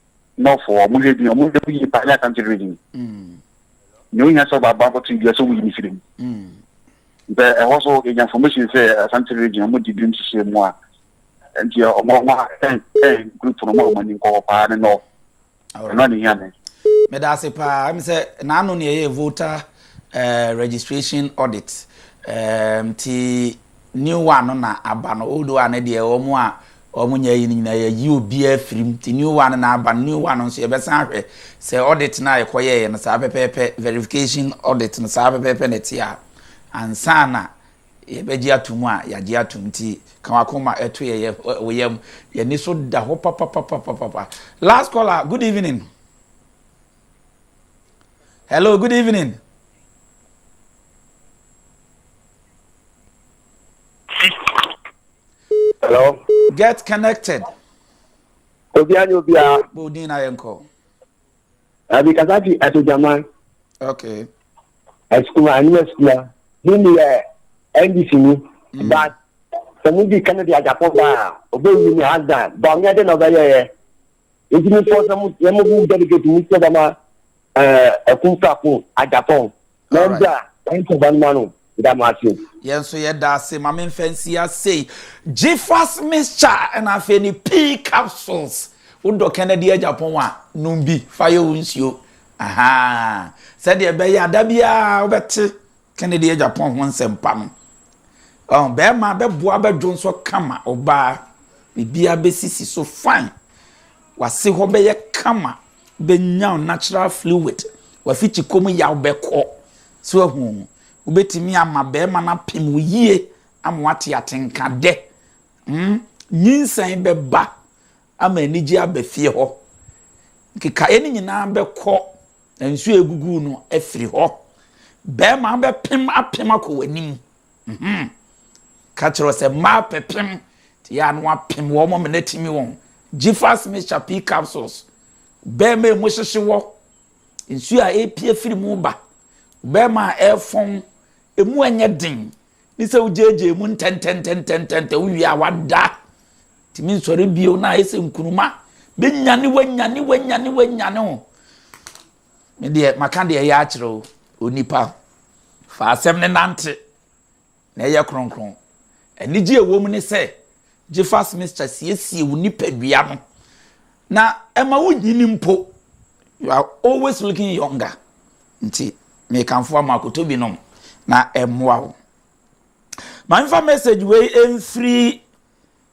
nɔfo a wɔhwɛ din wɔn yɛ yie paa yɛ asante village ni nea ohia sɛ ɔbaaba akɔto dua sɛ wɔyi ne siri mu nti ɛhɔ so yɛnya information sɛ asante village wɔn di binom hyehyɛ mu a nti wɔn wɔn ɛn ɛn group no wɔn a wɔn ani nkɔ hɔ paa ne nɔɔ ɛnɔ ne hia ne. meda ase paa ɛmi sɛ n'ano na ɛyɛ voter uh, registration audit nti. Um, New one no na aba no old one no deɛ wɔn a wɔn nyɛ ayi no nyinaa yɛyi obiara firi mu nti new one no na aba no new one no nso yɛbɛsan ahwɛ sɛ audit no a yɛkɔyɛeɛ no saa pɛpɛɛpɛ verification audit no saa pɛpɛɛpɛ na ɛte a ansa na yɛbɛgye ato mu a yɛagye ato mu nti ka wakoma ɛto yɛ yɛ wo yam yɛni so da hɔ papapapapapa last caller good evening hello good evening. Hello. Get connected. Obia ni obia. Bo din na yɛn kɔ. Abi kasa fi Asojaman. Okay. Asukuma ani asukuma. Ni ni yɛ NDC ni. Mm. But sɛ mo di Kennedy Ajapon baa obe wi ni hands down. Ba ɔnyɛ de na ɔbɛ yɛ yɛ. Nti mi fɔ sɛ mo yɛ mo bu delegate mo sɛ bɛ ma ɛɛ ɛkun fa kun Ajapon. All right. Yɛn nso yɛda ase ma memfa nsi asei gyefas mixture ɛna afei ne pea capsules wodɔ kennedy agyapɔn a nom bi fa yɛ wo nsuo aha sɛdeɛ ɛbɛyɛ ada biara wobɛte kennedy agyapɔn ho nsɛmpa no ɔn bɛrima bɛboa bɛdwo nso kama ɔbaa biribiara bɛsisi so fine wase hɔ bɛyɛ kama Wobɛnya wo natural fluid, w'afikyikɔ mu yaw bɛkɔ. So wahu? Wobɛtumi ama barima no apem wo yie ama woate atenka dɛ. Hmm, nyinsɛn bɛba ama anigyeɛ aba fie hɔ. Nkekaeɛ no nyinaa bɛkɔ na nsuo a ɛgugu wo no afiri hɔ. Barima bɛpem apem akɔ w'anim. Mhmm. Ka kyerɛ wɔn sɛ mmaa pɛpem te a na wɔapem wɔn ma no atumi wɔn. Gyifas mixture pee capsules. Bɛɛma a emu hyehye wɔ, nsuo a ɛrepie firi mu ba. Bɛɛma a ɛrefɔn, emu ɛnyɛ den. Ne sɛ wogyaagyaa mu ntɛntɛntɛntɛntɛntɛ wowie a wada. Tumi nsɔre bio na ayɛ sɛ nkunuma. Bɛnyane wanyane wanyane wanyane wo. Me deɛ, maka deɛ ɛyɛ akyerɛ wo, onipa. Fa asɛm no nante, na yɛ kronkron. Anigye a ɛwɔ mu ne sɛ, Jefas Mixture siesie wo nipadua no, na ɛma wonyini mpo. You are always looking younger. Nti, mekamfo ama kɔtɔ bi nom, na ɛmmoa wo. Ma memfa message wei mfiri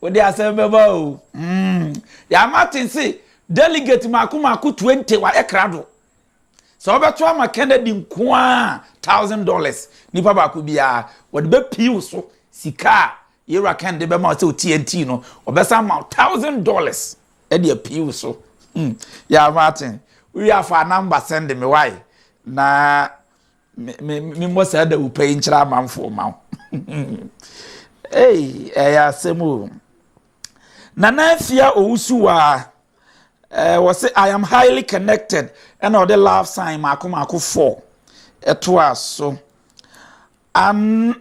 Wode asɛm bɛba o. Umm ya Martin se delegate mako mako 20 wayɛ krado. Sɛ wobɛto ama Kennedy nkoaa thousand dollars nipa baako biaa wɔde bɛ pii wo so sika a yewura Ken de bɛma wo sɛ TNT no ɔbɛsan ma wo thousand dollars ɛde apii wo so hmm ya Martin wowie a fa number send me wai na memmɔ saa dawurupɛ yi nkyerɛ amanfoɔ ma wo ei ɛyɛ asɛm o nana afia owusuwaa ɛɛ wɔ se i am highly connected ɛna ɔde love sign mako mako four ɛtoa so an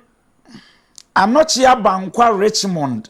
anɔkyea bankwa richmond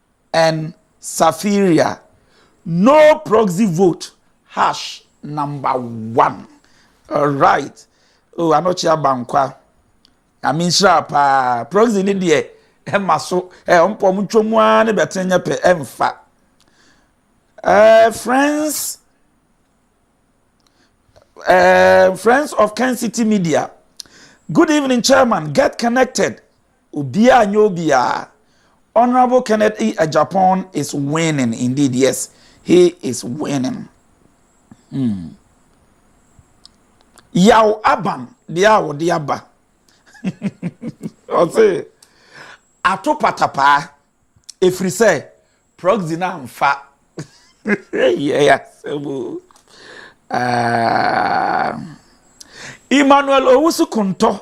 and Safiria no proxy vote hash number one alright oh anɔkye abankwa nyame nhyira paa proxy ne deɛ ɛma so ɛ ɔmpɔ ɔmo ntwa mu ara ne bɛtene nyɛ pɛ ɛmfa ɛɛ friends ɛɛ friends of Ken City Media good evening chairman get connected Obiara nyɛ obiara. Honourable Kenneth E Agyapong is winning indeed yes he is winning hmm Yaw Aban deɛ a wɔde aba ɔse ato patapaa ɛfiri sɛ proxy no amfa yɛ asɛm o ah Emmanuel Owusu Kontɔ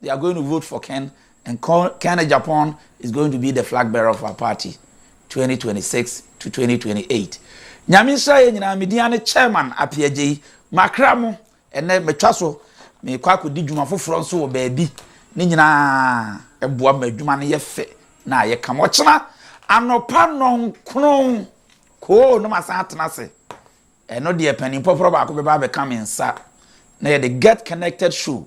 They are going to vote for Ken and Ken Agyapong is going to be the flag bearer of our party 2026 to 2028. Nyame nhyira yɛ nyinaa me din ane chairman Apiagyeyi makra mo ɛnɛ matwa so mekɔ akɔdi dwuma foforɔ nso wɔ baabi ne nyinaa ɛboa ma adwuma no yɛ fɛ na ayɛ kam ɔkyena anɔpa nɔnkron koo na masan atena ase ɛno deɛ panin pɔporɔ baako bɛba abɛka me nsa na yɛde get connected show